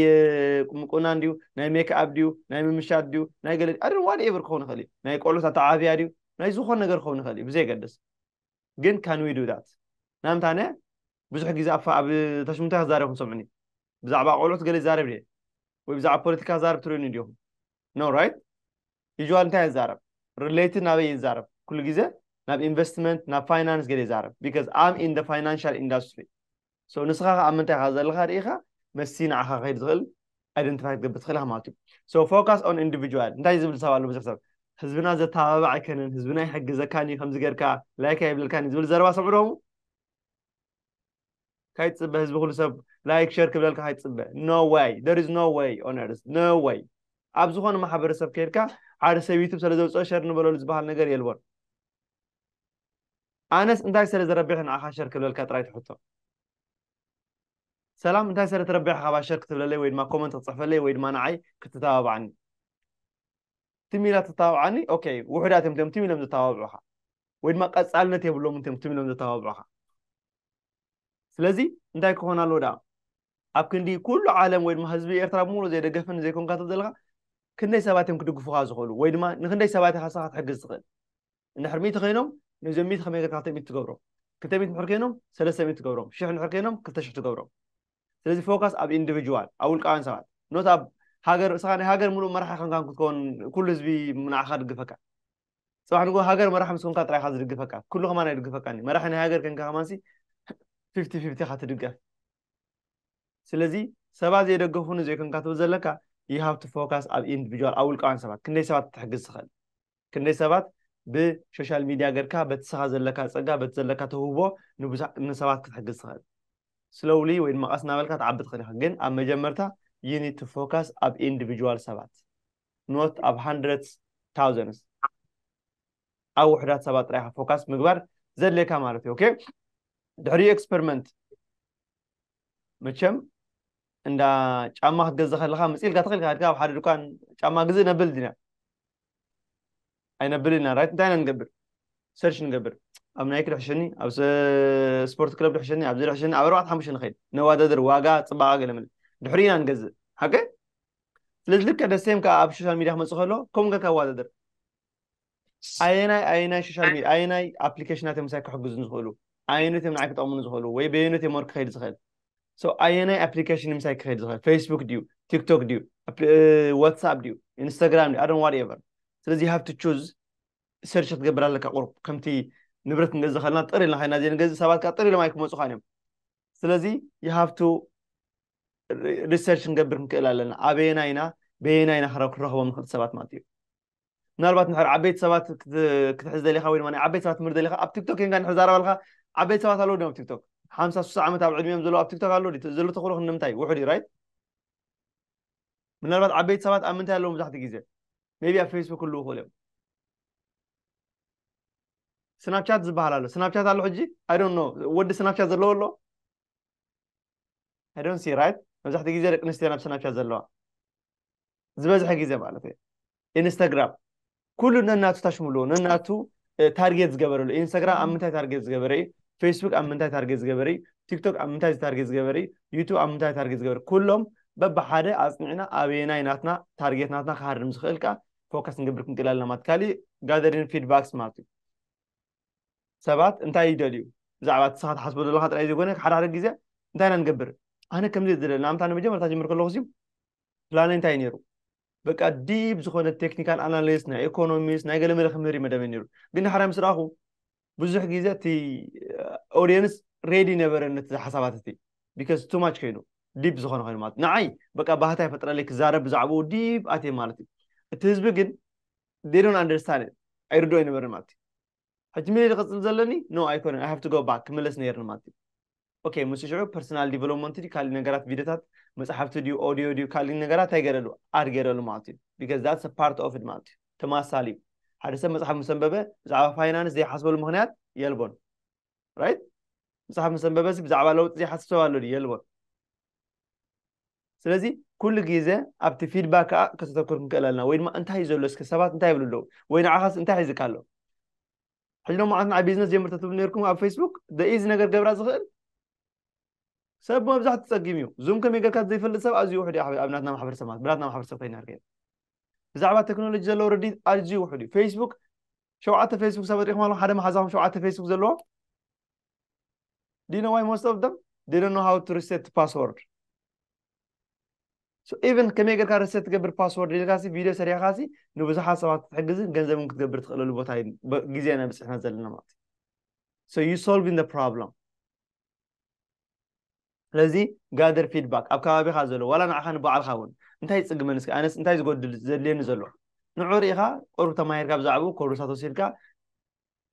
ምቁናን ድዩ ናይ ሜክኣብ ድዩ ናይ ምምሻት ድዩ ናይ ገለ ኣደ ዋን ኤቨር ክኸውን ይኽእል እዩ ናይ ቆልዑት ኣተዓብያ ድዩ ናይ ዝኾነ ነገር ክኸውን ይኽእል እዩ ብዘይገድስ ግን ካን ዊ ዱ ዳት ናምታነ ብዙሕ ግዜ ኣብ ኣብ ተሽምንታይ ክዛረብ ክንሰምዑኒ ብዛዕባ ቆልዑት ገለ ይዛረብ ድየ ወይ ብዛዕባ ፖለቲካ ዛረብ ትርእዩኒ ድኹም ኖ ራይት ዩዥዋል እንታይ እዛረብ ርሌትድ ናበይ ይዛረብ ኩሉ ግዜ ናብ ኢንቨስትመንት ናብ ፋይናንስ ገለ ይዛረብ ቢካዝ ኣም ኢን ፋይናንሻል ኢንዳስትሪ ሶ ንስኻ ከ ኣብ ምንታይ ኢኻ ዘለኻ ርኢኻ መስቲ ንዓኻ ክኸይድ ዝኽእል ኣይደንቲፋይ ክትገብር ትኽእል ኢኻ ማለት እዩ ሶ ፎካስ ኦን ኢንዲቪጁዋል እንታይ ዝብል ሰብ ኣሎ ብዙሕ ሰብ ህዝብና ዘተባባዕ ኣይከነን ህዝብና ይሕግዘካን እዩ ከምዚ ጌርካ ላይክ ኣይብለልካን እዩ ዝብል ዘረባ ሰምዑ ዶኹም ካይ ትጽበ ህዝቢ ኩሉ ሰብ ላይክ ሸር ክብለልካ ካይ ትጽበ ኖ ወይ ደር ኢዝ ኖ ወይ ኦን ኤርዝ ኖ ወይ ኣብ ዝኾነ ማሕበረሰብ ከይድካ ሓደ ሰብ ዩቱብ ስለ ዘውፅኦ ሸር ንበለሉ ዝበሃል ነገር የልቦን ኣነስ እንታይ ስለ ዝረብሕ ንዓኻ ሸር ክብለልካ ጥራይ ትሕቶ ሰላም እንታይ ስለ ትረብሕ ካባ ሸር ክትብለለይ ወይ ድማ ኮመንት ክትፅሕፈለይ ወይ ድማ ንዓይ ክትተባብዓኒ ትም ኢላ ትተባብዓኒ ኦኬ ውሑዳት እዮም ቲም ኢሎም ዝተባብዑኻ ወይ ድማ ቀጻልነት የብሎምን እቶም ትም ኢሎም ዘተባብዑኻ ስለዚ እንታይ ክኾን ኣለዎ ደኣ ኣብ ክንዲ ኩሉ ዓለም ወይ ድማ ህዝቢ ኤርትራ ብምሉ ዘይደገፍን ዘይኮንካ ትብል ዘለካ ክንደይ ሰባት እዮም ክድግፉኻ ዝኽእሉ ወይ ድማ ንክንደይ ሰባት ኢኻ ስኻ ክትሕግዝ ትኽእል እንድሕር ሚእቲ ኮይኖም ነዞም ሚእቲ ከመይ ጌርካ ክልተ ሚእቲ ትገብሮም ክልተ ሚእቲ ንድሕር ኮይኖም ሰለስተ ሚእቲ ትገብሮም ሽሕ ንድሕር ኮይኖም ክልተ ሽሕ ትገብሮም ስለዚ ፎካስ ኣብ ኢንዲቪጁዋል ኣብ ውልቃውያን ሰባት ኖት ኣብ ሃገር ስኻ ናይ ሃገር ምሉእ መራሒ ከንካን ክትከውን ኩሉ ህዝቢ ንዓኻ ድግፈካ ጽባሕ ንግሆ ሃገር መራሒ ምስ ኮንካ ጥራይ ኢኻ ዝድግፈካ ኩሉ ከማን ኣይድግፈካን እዩ መራሒ ናይ ሃገር ኮንካ ከማንሲ ፊፍቲ ፊፍቲ ኢኻ ትድገፍ ስለዚ ሰባት ዘይደገፉኒ ዘይኮንካ ትብል ዘለካ you have to focus ኣብ ኢንዲቪጁዋል ኣብ ውልቃውያን ሰባት ክንደይ ሰባት ትሕግዝ ትኽእል ክንደይ ሰባት ብሶሻል ሚድያ ገርካ በቲ ስኻ ዘለካ ፀጋ በቲ ዘለካ ተውህቦ ንሰባት ክትሕግዝ ትኽእል ስለውሊ ወይ ድማ ቀስ እናበልካ ትዓቢ ትኽእል ኢኻ ግን ኣብ መጀመርታ ዩኒት ፎካስ ኣብ ኢንዲቪጁዋል ሰባት ኖት ኣብ ሃንድረትስ ታውዘንስ ኣብ ውሕዳት ሰባት ጥራይካ ፎካስ ምግባር ዘድልየካ ማለት እዩ ኦኬ ድሕሪ ኤክስፐሪመንት መቸም እንዳ ጫማ ክትገዝእ ከለካ መፅኢልካ ተኽኢልካ ድካ ኣብ ሓደ ድኳን ጫማ ግዝእ ነብል ድና ኣይነብልን ኢና ራይት እንታይ ኢና ንገብር ሰርች ንገብር ኣብ ናይክ ድሕሸኒ ኣብ ስፖርት ክለብ ድሕሸኒ ኣብዚ ድሕሸኒ ኣብ ኣርባዕተ ሓሙሽተ ንኸይድ ነዋዳድር ዋጋ ፅባቐ ገለመለ ድሕሪ ኢና ንገዝእ ሓቂ ስለዚ ልክዕ ደሴም ከዓ ኣብ ሶሻል ሚዲያ ክመፅእ ከሎ ከምኡ ገርካ ኣዋዳድር ኣየናይ ኣየናይ ሶሻል ሚዲያ ኣየናይ ኣፕሊኬሽናት እዮም ምሳይ ክሕግዙ ዝኽእሉ ኣየነት እዮም ንዓይ ክጠቕሙኒ ዝኽእሉ ወይ በየነት እዮም ወርክ ክኸይድ ዝኽእል ሶ ኣየናይ ኣፕሊኬሽን ምሳይ ክኸይድ ዝኽእል ፌስቡክ ድዩ ቲክቶክ ድዩ ዋትሳፕ ድዩ ኢንስታግራም ድዩ ኣዶን ዋት ኤቨር ስለዚ ሃብ ቱ ቹዝ ሰርች ክትገብር ኣለካ ቁሩብ ከምቲ ንብረት ንገዝ ከለና ጥር ኢልና ከይና ዘይንገዝ ሰባት ከዓ ጥር ኢሎም ኣይክመፁኻን እዮም ስለዚ ይሃብቱ ሪሰርች ክንገብር ክንክእል ኣለና ኣበየና ኢና በየና ኢና ክንረኽቦም ንኽእል ሰባት ማለት እዩ ምናልባት ንሕር ዓበይቲ ሰባት ክትሕዝ ደሊኻ ወይ ድማ ናይ ዓበይቲ ሰባት ትምህርቲ ደሊኻ ኣብ ቲክቶክ ንካ ንሕዛረበልካ ዓበይቲ ሰባት ኣለዉ ዲም ኣብ ቲክቶክ ሓምሳ ሱሳ ዓመት ኣብ ዕድሚኦም ዘለዉ ኣብ ቲክቶክ ኣለዉ ዲ ዘሎ ተኽእሎ ክንምንታይ ውሑድ እዩ ራይት ምናልባት ዓበይቲ ሰባት ኣብ ምንታይ ኣለዉ መብዛሕትኡ ግዜ ሜቢ ኣብ ፌስቡክ ክልዉ ክእሉ እዮም ስናፕቻት ዝበሃል ኣሎ ስናፕቻት ኣሎ ሕጂ ኣይ ዶንት ኖ ወዲ ስናፕቻት ዘለዎ ኣሎ ኣይ ዶንት ሲ ራይት መብዛሕትኡ ግዜ ደቂ ኣንስትዮ ናብ ስናፕቻት ዘለዋ ዝበዝሐ ግዜ ማለት እዩ ኢንስታግራም ኩሉ ነናቱ ታሽምሉ ነናቱ ታርጌት ዝገበረሉ ኢንስታግራም ኣብ ምንታይ ታርጌት ዝገበረ እዩ ፌስቡክ ኣብ ምንታይ ታርጌት ዝገበረ እዩ ቲክቶክ ኣብ ምንታይ ታርጌት ዝገበረ እዩ ዩቱብ ኣብ ምንታይ ታርጌት ዝገበረ ኩሎም በብሓደ ኣፅኒዕና ኣበየናይ ናትና ታርጌት ናትና ክሃርም ዝኽእል ከዓ ፎከስ ንገብር ክንክእል ኣለና ማለት ካሊእ ጋዘሪን ፊድባክስ ማለት እዩ ሰባት እንታይ ይደልዩ ብዛዕባ እቲ ስኻ ትሓስቦ ዘለካ ጥራይ ዘይኮነ ሓደ ሓደ ግዜ እንታይ ኢና ንገብር ኣነ ከምዚ ዝደለ ንኣብነት ኣነ መጀመርታ ጀምር ከለኹ ፕላነይ እንታይ እዩ ነይሩ በቃ ዲብ ዝኾነ ቴክኒካል ኣናሊስት ናይ ኢኮኖሚስት ናይ ገለ መለ ክምህር እዩ መደበይ ነይሩ ግን ድሓራ ምስ ረኣኹ ብዙሕ ግዜ እቲ ኦዲየንስ ሬዲ ነበረ ነቲ ሓሳባት እቲ ቢካዝ ቱ ማች ኮይኑ ዲብ ዝኾነ ኮይኑ ማለት ንዓይ በቃ ባህታ ይፈጥረለይ ክዛረብ ብዛዕባኡ ዲብ ኣትየ ማለት እዩ እቲ ህዝቢ ግን ዴዶን ኣንደርስታን ኣይርድኦ ይነበረ ማለት እዩ ሕጂ ምልይ ክቕጽል ዘለኒ ኖ ኣይኮነን ኣይ ሃቭ ቱ ጎ ባክ ክምለስ ነይርኒ ማለት እዩ ኦኬ ምስ ሽዑ ፐርሰናል ዲቨሎፕመንት ድዩ ካልእ ነገራት ቪድዮታት መፅሓፍቲ ድዩ ኦዲዮ ድዩ ካልእ ነገራት እንታይ ገይረሉ ኣድ ገይረሉ ማለት እዩ ቢካዝ ዳትስ ፓርት ኦፍ ማለት እዩ ተመሳሳሊ እዩ ሓደ ሰብ መፅሓፍ ምስ ኣንበበ ብዛዕባ ፋይናንስ ዘይሓስበሉ ምክንያት የልቦን ራይት መፅሓፍ ምስ ኣንበበ ብዛዕባ ለውጢ ዘይሓስብ ሰብ ኣሎ ድዩ የልቦን ስለዚ ኩሉ ግዜ ኣብቲ ፊድባክ ከዓ ከተተኩር ክንክእል ኣለና ወይ ድማ እንታይ እዩ ዘሎ እስከ ሰባት እንታይ ይብሉ ኣለዉ ወይ ንዓኻስ እንታይ ሒዝካ ኣሎ ሕጂ ሎሚ ዓት ንዓይ ቢዝነስ ጀምር ተትብሉ ነርኩም ኣብ ፌስቡክ ደኢዚ ነገር ገብራ ዝኽእል ሰብ መብዛሕቲ ፀጊም እዩ ዙም ከመይ ጌርካ ዘይፈልጥ ሰብ ኣዝዩ ውሕድ እዩ ኣብ ናትና ማሕበረሰብ ማለት ብናትና ማሕበረሰብ ኮይና ርገ ብዛዕባ ቴክኖሎጂ ዘለዎ ረዲት ኣዝዩ ውሕድ እዩ ፌስቡክ ሸውዓተ ፌስቡክ ሰባት ሪኢኹም ኣለኹም ሓደ መሓዛኹም ሸውዓተ ፌስቡክ ዘለዎ ዲኖ ዋይ ሞስት ኦፍ ደም ዲኖ ሃው ቱ ሪሴት ፓስወርድ ኢቨን ከመይ ጌርካ ሪሴት ትገብር ፓስወርድ ኢልካ ሲ ቪድዮ ሰሪሕካ ሲ ንብዙሓት ሰባት ክትሕግዝን ገንዘብን ክትገብር ትኽእለሉ ቦታ ግዜ ኢና ብፅሕና ዘለና ማለት እዩ ሶ ዩ ሶልቪን ደ ፕሮብለም ስለዚ ጋደር ፊድባክ ኣብ ከባቢኻ ዘሎ ዋላ ንዓኻ ንባዕልካ እውን እንታይ ይፅግመኒ እስኪ ኣነስ እንታይ ዝጎድል ዘድልየኒ ዘሎ ንዑ ርኢኻ ቁሩብ ተማሂርካ ብዛዕባኡ ኮርሳት ወሲድካ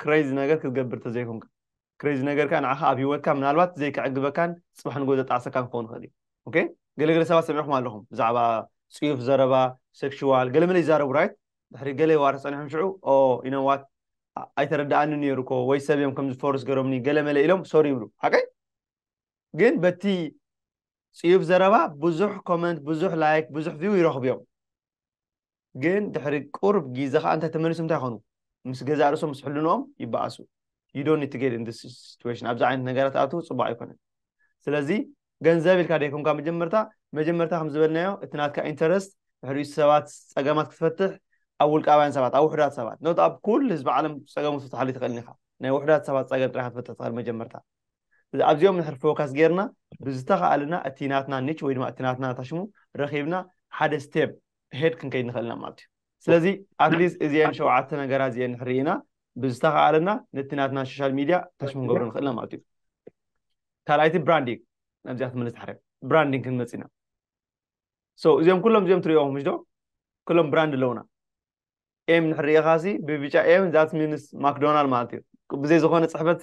ክረይዚ ነገር ክትገብር ተዘይኮንካ ክረይዚ ነገር ከዓ ንዓኻ ኣብ ሂወትካ ምናልባት ዘይከዕግበካን ፅባሕ ንጎ ዘጣዕሰካን ክኸውን ይኽእል እዩ ኦኬ ገለገለ ሰባት ሰሚዕኹም ኣለኹም ብዛዕባ ፅዩፍ ዘረባ ሴክሽዋል ገለመለ ይዛረቡ ራይት ድሕሪ ገለ ዋር ፀኒሖም ሽዑ ኦ ኢነዋት ኣይተረዳኣኒ ነይሩ እኮ ወይ ሰብ እዮም ከምዚ ፎርስ ገሮምኒ ገለመለ ኢሎም ሶሪ ይብሉ ሓቀይ ግን በቲ ፅዩፍ ዘረባ ብዙሕ ኮመንት ብዙሕ ላይክ ብዙሕ ቪው ይረኽቡ እዮም ግን ድሕሪ ቁሩብ ጊዘ ከኣ እንታይ ተመሊሶም እንታይ ይኮኑ ምስ ገዛእ ርእሶም ምስ ሕልንኦም ይበኣሱ you don't need to get in this situation ኣብዚ ዓይነት ነገራት ኣቱ ጽቡቅ ኣይኮነን ስለዚ ገንዘብ ኢልካ ደይኮንካ መጀመርታ መጀመርታ ከም ዝበልናዮ እቲ ናትካ ኢንተረስት ድሕሪኡ ሰባት ጸገማት ክትፈትሕ ኣብ ውልቃውያን ሰባት ኣብ ውሕዳት ሰባት ኖት ኣብ ኩል ህዝቢ ዓለም ጸገሙ ክትፈትሓሉ ትኽእል ኢኻ ናይ ውሕዳት ሰባት ጸገም ጥራይ ክትፈትሕ ትኽእል መጀመርታ እዚ ኣብዚኦም ንሕር ፎካስ ጌርና ብዝተኸኣለና እቲ ናትና ኒች ወይ ድማ እቲ ናትና ታሽሙ ረኺብና ሓደ ስቴፕ ሄድ ክንከይድ ንኽእል ኢና ማለት እዩ ስለዚ ኣትሊስት እዚአን ሸውዓተ ነገራት እዚአን ንሕሪ ኢና ብዝተኸኣለና ነቲ ናትና ሶሻል ሚድያ ታሽ ክንገብሮ ንኽእል ኢና ማለት እዩ ካልኣይቲ ብራንዲንግ ናብዚኣ ክትምልስ ድሓረ ብራንዲንግ ክንመፅ ኢና ሶ እዚኦም ኩሎም እዚኦም ትሪኦም ምሽ ዶ ኩሎም ብራንድ ኣለውና ኤም ንሕሪ ኢኻሲ ብብጫ ኤም ዛት ሚንስ ማክዶናልድ ማለት እዩ ብዘይ ዝኾነ ፅሕፈት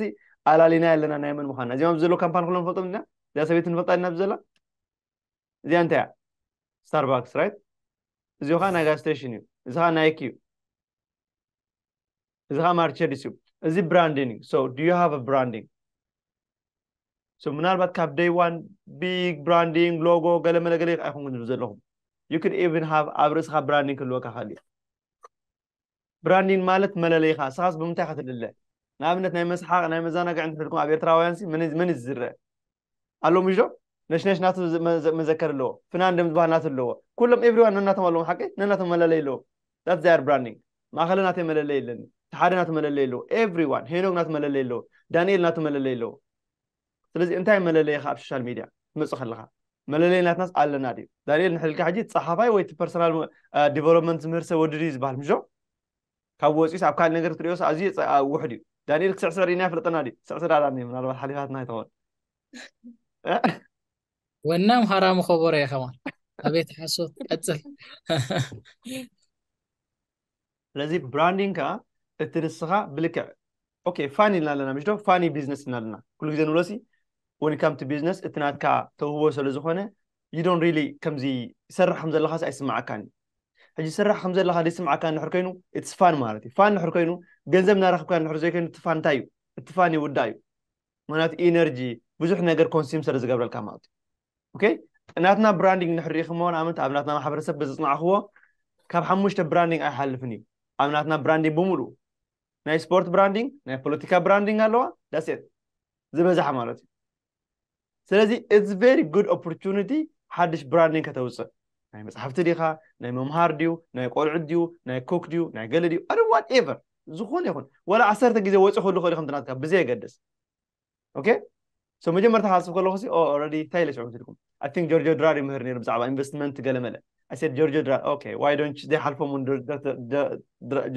ኣላሊና ኣለና ናይ መን ምዃንና እዚኦም ዘሎ ካምፓኒ ኩሎም ንፈልጦም ኢና እዚኣ ሰበይቲ ንፈልጣ ኢና ብዘላ እዚኣ እንታይ እያ ስታርባክስ ራይት እዚ ኸዓ ናይ ጋዝ ስቴሽን እዩ እዚ ኸዓ ናይክ እዩ እዚ ኸዓ ማርቸዲስ እዩ እዚ ብራንዲንግ ሶ ዱ ዩ ሃቭ ብራንዲንግ ሶ ምናልባት ካብ ደይ ዋን ቢግ ብራንዲንግ ሎጎ ገለ መለገለ ኣይኮንኩም ዘለኹም ዩ ክን ኢቨን ሃቭ ኣብ ርእስኻ ብራንዲንግ ክህልወካ ክእል እዩ ብራንዲን ማለት መለለይኻ እስኻስ ብምንታይ ኢኻ ትልለ ንኣብነት ናይ መስሓቅ ናይ መዛናግዕ እንድሕር ድኩም ኣብ ኤርትራውያን ሲ መን መን ዝዝረ ኣሎ ምሽ ዶ ነሽነሽ ናቱ መዘከር ኣለዎ ፍናን ደም ዝበሃል ናቱ ኣለዎ ኩሎም ኤቭሪዋን ነናቶም ኣለዎም ሓቂ ነናቶም መለለይ ኣለዎ ዳት ዛያር ብራንዲንግ ማእኸለ ናተይ መለለይ ኣለኒ እቲ ሓደ ናቱ መለለይ ኣለዎ ኤቭሪዋን ሄኖግ ናቱ መለለይ ኣለዎ ዳንኤል ናቱ መለለይ ኣለዎ ስለዚ እንታይ መለለይኻ ኣብ ሶሻል ሚድያ ክትመጽእ ከለኻ መለለይ ናትናስ ኣለና ድዩ ዳንኤል ንሕልካ ሕጂ ጸሓፋይ ወይ እቲ ፐርሰናል ዲቨሎፕመንት ዝምህር ሰብ ወዲ ድዩ ዝበሃል ምሾ ካብ ወፂኡስ ኣብ ካልእ ነገር ክትሪኦስ ኣዝዩ ውሕድ እዩ ዳንኤል ክስዕስዕ ርኢና ይፍለጠና ድዩ ክስዕስዕ ዳዳ እኒ ምናልባት ሓሊፋትና ይትኸውን ወናም ሃራሙ ከበሮ እየ ከማን ኣቤት ሓሶት ቀፅል ስለዚ ብራንዲንግ ከዓ እቲ ንስኻ ብልክዕ ኦኬ ፋኒ ኢልና ኣለና ምሽዶ ፋኒ ቢዝነስ ኢና ኣለና ኩሉ ግዜ ንብሎ ሲ ወን ካም ቱ ቢዝነስ እቲ ናትካ ተውህቦ ስለ ዝኾነ ዩ ዶን ሪሊ ከምዚ ይሰርሕ ከም ዘለኻስ ኣይስምዓካን እዩ ሕጂ ስራሕ ከም ዘለካ ዘይስምዓካ እንድሕር ኮይኑ ኢትስ ፋን ማለት እዩ ፋን እንድሕር ኮይኑ ገንዘብ እናረክብካ እንድሕር ዘይኮይኑ እቲ ፋን እንታይ እዩ እቲ ፋን ይውዳእ እዩ ምክንያቱ ኢነርጂ ብዙሕ ነገር ኮንሱም ስለ ዝገብረልካ ማለት እዩ ኦኬ ናትና ብራንዲንግ ንድሕር ርኢኹምዎ ንኣብነት ኣብ ናትና ማሕበረሰብ በዘፅናዕኹዎ ካብ ሓሙሽተ ብራንዲንግ ኣይሓልፍን እዩ ኣብ ናትና ብራንዲንግ ብምሉኡ ናይ ስፖርት ብራንዲንግ ናይ ፖለቲካ ብራንዲንግ ኣለዋ ዳሴት ዝበዝሓ ማለት እዩ ስለዚ ኢትስ ቨሪ ጉድ ኦፖርቹኒቲ ሓድሽ ብራንዲንግ ከተውፅእ ናይ መፅሓፍቲ ዲኻ ናይ መምሃር ድዩ ናይ ቆልዑት ድዩ ናይ ኮክ ድዩ ናይ ገለ ድዩ ኣደ ዋት ኤቨር ዝኾነ ይኹን ዋላ ዓሰርተ ግዜ ወፂ ክህሉ ክእል ከምትናትካ ብዘየገድስ ኦኬ ሶ መጀመርታ ክሓስብ ከለኹ ሲ ኦረዲ እንታይ ኢለ ሽዑ ትልኩም ኣይ ቲንክ ጆርጆ ድራር ይምህር ነይሩ ብዛዕባ ኢንቨስትመንት ገለመለ ኣይ ሰድ ጆርጆ ድራር ኦኬ ዋይ ዶንት ዘይሓልፎም እውን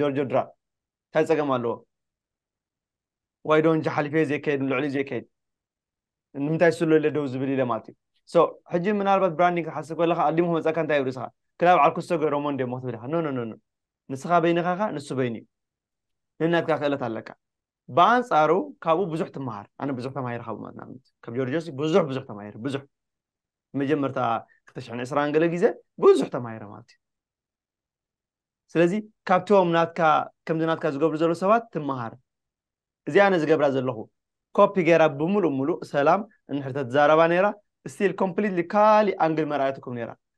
ጆርጆ ድራር እንታይ ፀገም ኣለዎ ዋይ ዶንት ሓሊፈ ዘይከየድ ልዕሊ ዘይከየድ ንምንታይ ስሎ ኢለ ደው ዝብል ኢለ ማለት እዩ ሶ ሕጂ ምናልባት ብራንዲንግ ክሓስብ ከለካ ኣዲሞ ክመፀካ እንታይ ይብሉ ስኻ ክላብ ዓርኩሶ ገይሮሞ እንዲሞ ክትብል ኢኻ ኖ ኖ ኖ ንስኻ በይንኻ ንሱ በይኑ እዩ ነናትካ ክእለት ኣለካ ብኣንጻሩ ካብኡ ብዙሕ ትመሃር ኣነ ብዙሕ ተማሂረ ካብኡ ማለት ንኣብነት ካብ ጆርጆሲ ብዙሕ ብዙሕ ተማሂረ ብዙሕ መጀመርታ ክልተ ሽሕን ዕስራን ገለ ግዜ ብዙሕ ተማሂረ ማለት እዩ ስለዚ ካብቶም ናትካ ከምዚ ናትካ ዝገብሩ ዘለዉ ሰባት ትመሃር እዚ ኣነ ዝገብራ ዘለኹ ኮፒ ገይራ ብምሉእ ምሉእ ሰላም እንድሕር ተትዛረባ ነይራ ስቲል ኮምፕሊትሊ ካሊእ ኣንግል መርኣየትኩም ነይራ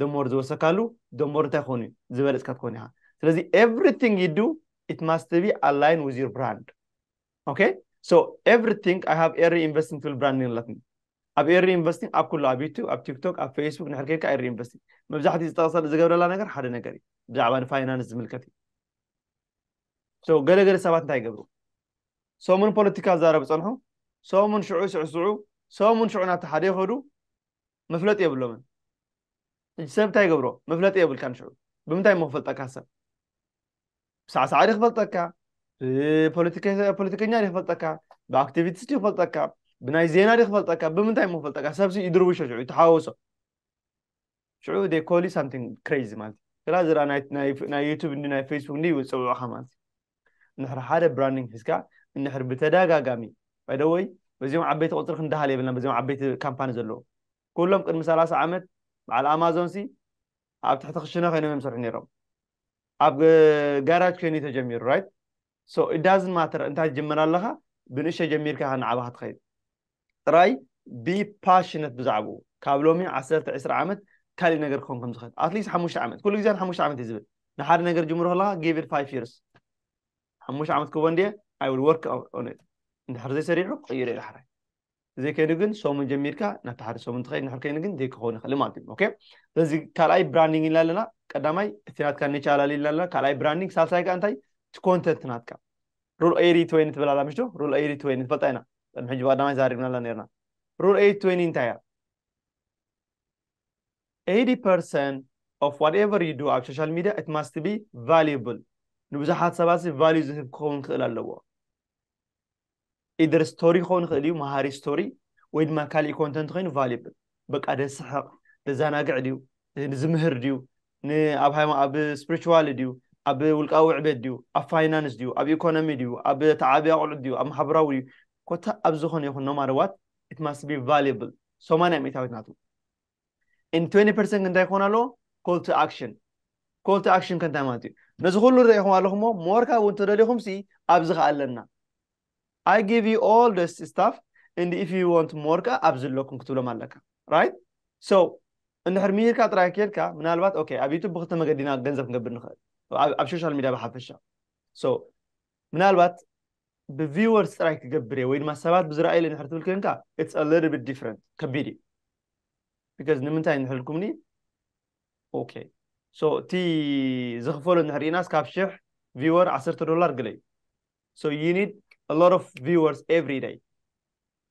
ደሞር ዝወሰካሉ ደሞር እንታይ ክኾን እዩ ዝበለፅካ ትኾን ኢኻ ስለዚ ኤቭሪቲንግ ዩ ዱ ኢት ማስት ቢ ኣላይን ዊዝ ዩር ብራንድ ኦኬ ሶ ኤቭሪቲንግ ኣይ ሃቭ ኤሪ ኢንቨስቲንግ ትብል ብራንድ ኣለትኒ ኣብ ኤሪ ኢንቨስቲንግ ኣብ ኩሉ ኣብ ዩቱብ ኣብ ቲክቶክ ኣብ ፌስቡክ ንሕር ከይድካ ኤሪ ኢንቨስቲንግ መብዛሕትኡ ዝጠቕሰ ዝገብረላ ነገር ሓደ ነገር እዩ ብዛዕባ ንፋይናንስ ዝምልከት እዩ ሶ ገለገለ ሰባት እንታይ ይገብሩ ሰሙን ፖለቲካ ዛረብ ፀንሑ ሰሙን ሽዑ ስዕስዑ ሰሙን ሽዑ ናብቲ ሓደ ይኸዱ መፍለጢ የብሎምን ሕጂ ሰብ እንታይ ይገብሮ መፍለጢ የብልካን ሽዑ ብምንታይ እሞ ክፈልጠካ ሰብ ብሳዕሳዕ ዲ ክፈልጠካ ብፖለቲከኛ ዲ ክፈልጠካ ብኣክቲቪቲስ ዲ ክፈልጠካ ብናይ ዜና ዲ ክፈልጠካ ብምንታይ እሞ ክፈልጠካ ሰብሲ ይድርብሾ ሽዑ ይተሓዋውሶ ሽዑ ዴ ኮሊ ሳምቲንግ ክሬዚ ማለት እዩ ስላ ዝራ ናይ ዩቱብ እንዲ ናይ ፌስቡክ እንዲ ይፅውዑኻ ማለት እዩ እንድሕር ሓደ ብራንዲንግ ሒዝካ እንድሕር ብተደጋጋሚ ባይ ዘ ወይ በዚኦም ዓበይቲ ቁፅሪ ክንደሃል የብልናን በዚኦም ዓበይቲ ካምፓኒ ዘለዉ ኩሎም ቅድሚ ሰላሳ ዓመት በዓል ኣማዞን ሲ ኣብ ትሕቲ ክሽነ ኮይኖም እዮም ዝሰርሑ ነይሮም ኣብ ጋራጅ ኮይኑ ተጀሚሩ ራይት ሶ ኢት ዳዝንት ማተር እንታይ ትጅምር ኣለኻ ብንእሽተይ ጀሚርካ ኢኻ እናዓበኻ ትኸይድ ጥራይ be passionate ብዛዕብኡ ካብ ሎሚ ዓሰርተ ዕስራ ዓመት ካሊእ ነገር ክኸውን ከም ዝኽእል at least ሓሙሽተ ዓመት ኩሉ ግዜ ንሓሙሽተ ዓመት እዩ ዝብል ንሓደ ነገር ጅምሮ ከለኻ give it five years ሓሙሽተ ዓመት ክህቦ እንድየ I will work on it እንድሕር ዘይሰሪሑ ክቕይሮ እዩ ዳሕራይ ዘይከይኑ ግን ሰሙን ጀሚርካ ናብቲ ሓደ ሰሙን ትኸይድ ንድሕር ከይኑ ግን ዘይክኸውን ይኽእል ማለት እዩ ኦኬ ስለዚ ካልኣይ ብራንዲንግ ኢልና ኣለና ቀዳማይ እቲ ናትካ ኒቻ ኣላሊ ኢልና ኣለና ካልኣይ ብራንዲንግ ሳልሳይ ከዓ እንታይ እቲ ኮንተንት ናትካ ሩል ኤሪ ትወይኒ ትብል ኣላ ምሽዶ ሩል ኤሪ ትወይኒ ንፈልጣ ኢና ቅድሚ ሕጂ ብቀዳማይ ዛሪብናላ ነርና ሩል ኤሪ ትወይኒ እንታይ እያ 80 ፐርሰንት of whatever you do ኣብ ሶሻል ሚድያ it must be valuable ንብዙሓት ሰባት ቫልዩ ዝህብ ክኸውን ክእል ኣለዎ ኢደር ስቶሪ ክኸውን ይኽእል እዩ መሃሪ ስቶሪ ወይ ድማ ካሊእ ኮንተንት ኮይኑ ቫልብል በቃ ደስሕቕ ደዘናግዕ ድዩ ዝምህር ድዩ ን ኣብ ሃይማ ኣብ ስፕሪቹዋሊ ድዩ ኣብ ውልቃዊ ዕቤት ድዩ ኣብ ፋይናንስ ድዩ ኣብ ኢኮኖሚ ድዩ ኣብ ተዓቢ ኣቑዑት ድዩ ኣብ ማሕበራዊ ድዩ ኮታ ኣብ ዝኾነ ይኹን ኖማር ዋት ኢት ማስት ቢ ቫሉብል ሰማንያ ሚእታዊት ናቱ ን ትዌንቲ ፐርሰንት እንታይ ክኾን ኣለዎ ኮል ቱ ኣክሽን ኮል ቱ ኣክሽን ከ እንታይ ማለት እዩ ነዚ ኩሉ ርኢኹም ኣለኹሞ ሞር ካብኡ እንተደሊኹምሲ ኣብዚ ከ ኣለና I give you all this stuff and if you want more ከኣ ኣብዚ ኣለኩም ክትብሎም ኣለካ right so እንድሕር ምሂርካ ጥራይ ኬድካ ምናልባት ኦኬ ኣብ ዩቱብ ብክልተ መገዲና ገንዘብ ክንገብር ንኽእል ኣብ ሶሻል ሚድያ ብሓፈሻ so ምናልባት ብቪወርስ ጥራይ ክገብር እየ ወይ ድማ ሰባት ብዝረኣዩ ኢለ ንድሕር ትብል ኮንካ ኢትስ አ ሊትል ቢት ዲፍረንት ከቢድ እዩ ቢካዝ ንምንታይ እንድሕር ኢልኩምኒ ኦኬ ሶ እቲ ዝኽፈሎ እንድሕር ርኢናስ ካብ ሽሕ ቪወር ዓሰርተ ዶላር ግለ እዩ so you need a lot of viewers every day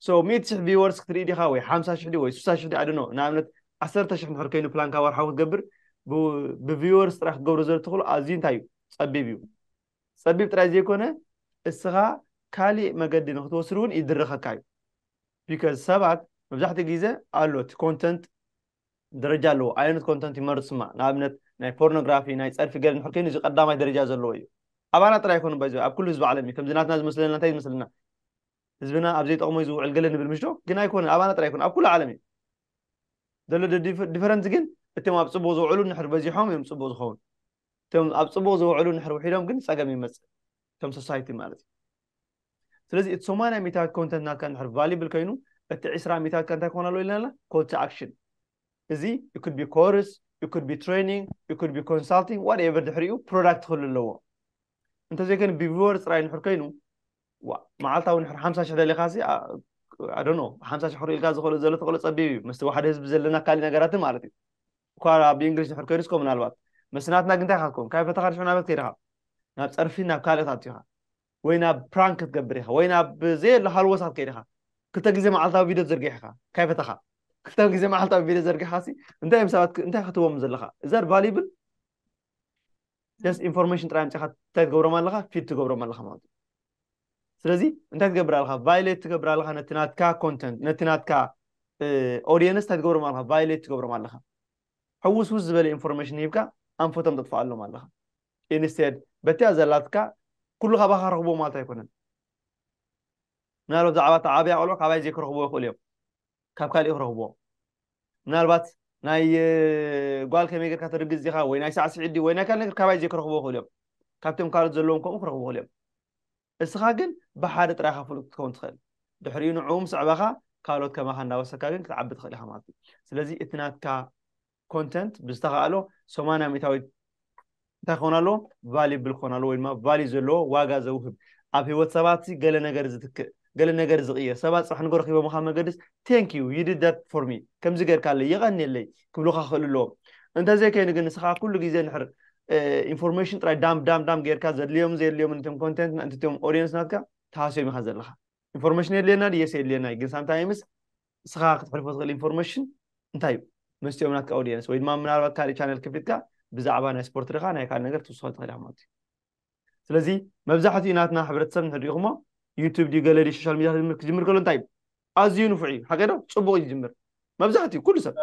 so ሚእቲ ሽሕ viewers ክትርኢ ዲኻ ወይ ሓምሳ ሽሕ ድዩ ወይ ስሳ ሽሕ ድዩ ኣድኖ ንኣብነት ዓሰርተ ሽሕ ንድሕር ከይኑ ፕላንካ ወርሓዊ ክትገብር ብቪወርስ ጥራሕ ክገብሮ ዘሎ ትኽእሉ ኣዝዩ እንታይ እዩ ጸቢብ እዩ ጸቢብ ጥራይ ዘይኮነ እስኻ ካሊእ መገዲ ንክትወስድ እውን ይድረኸካ እዩ ቢካዝ ሰባት መብዛሕትኡ ግዜ ኣሎ እቲ ኮንተንት ደረጃ ኣለዎ ኣየኑት ኮንተንት ይመርጽ ስማ ንኣብነት ናይ ፖርኖግራፊ ናይ ጸርፊ ገለ ንሕር ከይኑ እዚ ቀዳማይ ደረጃ ዘለዎ እዩ ኣባና ጥራይ ኣይኮኑ ባይዘ ኣብ ኩሉ ህዝቢ ዓለም እዩ ከምዚ ናትና ዝመስለና እንታይ ዝመስለና ህዝብና ኣብ ዘይጠቕሞ እዩ ዝውዕል ገለ ንብል ምሽዶ ግን ኣይኮነ ኣባና ጥራይ ኣይኮነ ኣብ ኩሉ ዓለም እዩ ዘሎ ዲፈረንት ግን እቶም ኣብ ጽቡቕ ዝውዕሉ ንሕር በዚሖም እዮም ጽቡቕ ዝኸውን እቶም ኣብ ጽቡቕ ዝውዕሉ ንሕር ውሒዶም ግን ጸገም ይመጽእ ከም ሶሳይቲ ማለት እዩ ስለዚ እቲ ሰማንያ ሚእታዊት ኮንተንት ናትካ እንድሕር ቫሊብል ከይኑ እቲ ዕስራ ሚእታዊትካ እንታይ ክኾን ኣለዎ ኢልና ኣለና ኮል ቱ ኣክሽን እዚ it could be course it could be training it could be consulting whatever ድሕሪኡ ፕሮዳክት ክህሉ ኣለዎ እንተዘይኮይኑ ብቪወር ጥራይ እንድሕር ከይኑ መዓልታዊ ንሕር ሓምሳ ሽሕ ደሊኻ ሲ ኣዶኖ ሓምሳ ሽሕ ክርእልካ ዝኽእሉ ዘሎ ተኽእሎ ፀቢብ እዩ ምስቲ ዋሕደ ህዝቢ ዘለና ካሊእ ነገራትን ማለት እዩ እኳ ኣብ እንግሊሽ ድሕር ከይዱስ ኮ ምናልባት መስናትና ግን እንታይ ካትኮን ካብ ፈተኻ ድሕር ናበት ከይድኻ ናብ ፀርፊ ናብ ካልእ ታቱ ኢኻ ወይ ናብ ፕራንክ ክትገብር ኢኻ ወይ ናብ ዘየሎ ሃልወሳት ከይድ ኢኻ ክልተ ግዜ መዓልታዊ ቪድዮ ትዝርግሕ ኢኻ ካይ ፈተኻ ክልተ ግዜ መዓልታዊ ቪድዮ ዘርጊሕኻሲ እንታይ እዮም ሰባት እንታይ ክትቦም ዘለኻ እዛ ቫሊብል ጀስት ኢንፎርሜሽን ጥራይ ኣምፂኻ እንታይ ትገብሮም ኣለኻ ፊድ ትገብሮም ኣለኻ ማለት እዩ ስለዚ እንታይ ትገብር ኣለኻ ቫይሌት ትገብር ኣለኻ ነቲ ናትካ ኮንተንት ነቲ ናትካ ኦዲየንስ እንታይ ትገብሮም ኣለኻ ቫይሌት ትገብሮም ኣለኻ ሕውስውስ ዝበለ ኢንፎርሜሽን ሂብካ ኣንፈቶም ተጥፍኣሎም ኣለኻ ኢንስቴድ በቲያ ዘላትካ ኩሉ ካባኻ ክረኽብዎ ማለት ኣይኮነን ምናልባት ብዛዕባ እቲ ዓብያ ቆልዑ ካባይ ዘይክረኽብዎ ይኽእሉ እዮም ካብ ካሊእ ክረኽብዎ ምናልባት ናይ ጓል ከመይ ጌርካ ተርግዝ ዲኻ ወይ ናይ ሳዕስዒት ድዩ ወይ ናይ ካልእ ነገር ካባይ ዘይክረኽብዎ ይኽእሉ እዮም ካብቶም ካልኦት ዘለዎም ከምኡ ክረኽቡ ይኽእሉ እዮም እስኻ ግን ብሓደ ጥራይካ ፍሉጥ ክትከውን ትኽእል ድሕሪኡ ንዕኡ ምስ ዕባኻ ካልኦት ከማኻ እናወሰካ ግን ክትዓቢ ትኽእል ኢኻ ማለት እዩ ስለዚ እቲ ናትካ ኮንተንት ብዝተኸእሎ ሰማንያ ሚእታዊት እንታይ ክኾን ኣለዎ ቫሊብል ክኾን ኣለዎ ወይ ድማ ቫሊ ዘለዎ ዋጋ ዘውህብ ኣብ ህይወት ሰባት ገለ ነገር ዝትክእ ገለ ነገር ዝቕየር ሰባት ፅባሕ ንጎ ረኪቦምካ መገድስ ቴንክ ዩ ዩ ዲድ ዳት ፎር ሚ ከምዚ ጌርካለይ የቐንየለይ ክብሉኻ ክኽእሉ ኣለዎም እንተዘይከይኑ ግን ንስኻ ኩሉ ግዜ ንሕር ኢንፎርሜሽን ጥራይ ዳም ዳም ዳም ጌርካ ዘድልዮም ዘየድልዮምን እቶም ኮንቴንት እንትም ኦድየንስ ናትካ ተሃስዮም ኢኻ ዘለኻ ኢንፎርሜሽን የድልየና ድየስ የድልየና ግን ሳምታይምስ ንስኻ ክትሕልፎ ትኽእል ኢንፎርሜሽን እንታይ እዩ መስትኦም ናትካ ኦዲየንስ ወይ ድማ ምናልባት ካልእ ቻነል ክፊትካ ብዛዕባ ናይ ስፖርት ድኻ ናይ ካልእ ነገር ትውስኾ ትኽእል ኢኻ ማለት እዩ ስለዚ መብዛሕትኡ ናትና ሕብረተሰብ ንሕድሪኹሞ ዩቱብ ድዩ ገለ ድዩ ሶሻል ሚዲያ ክጅምር ከሎ እንታይ እዩ ኣዝዩ ንፉዕ እዩ ሓቂ ዶ ፅቡቕ እዩ ዝጅምር መብዛሕትኡ ኩሉ ሰብ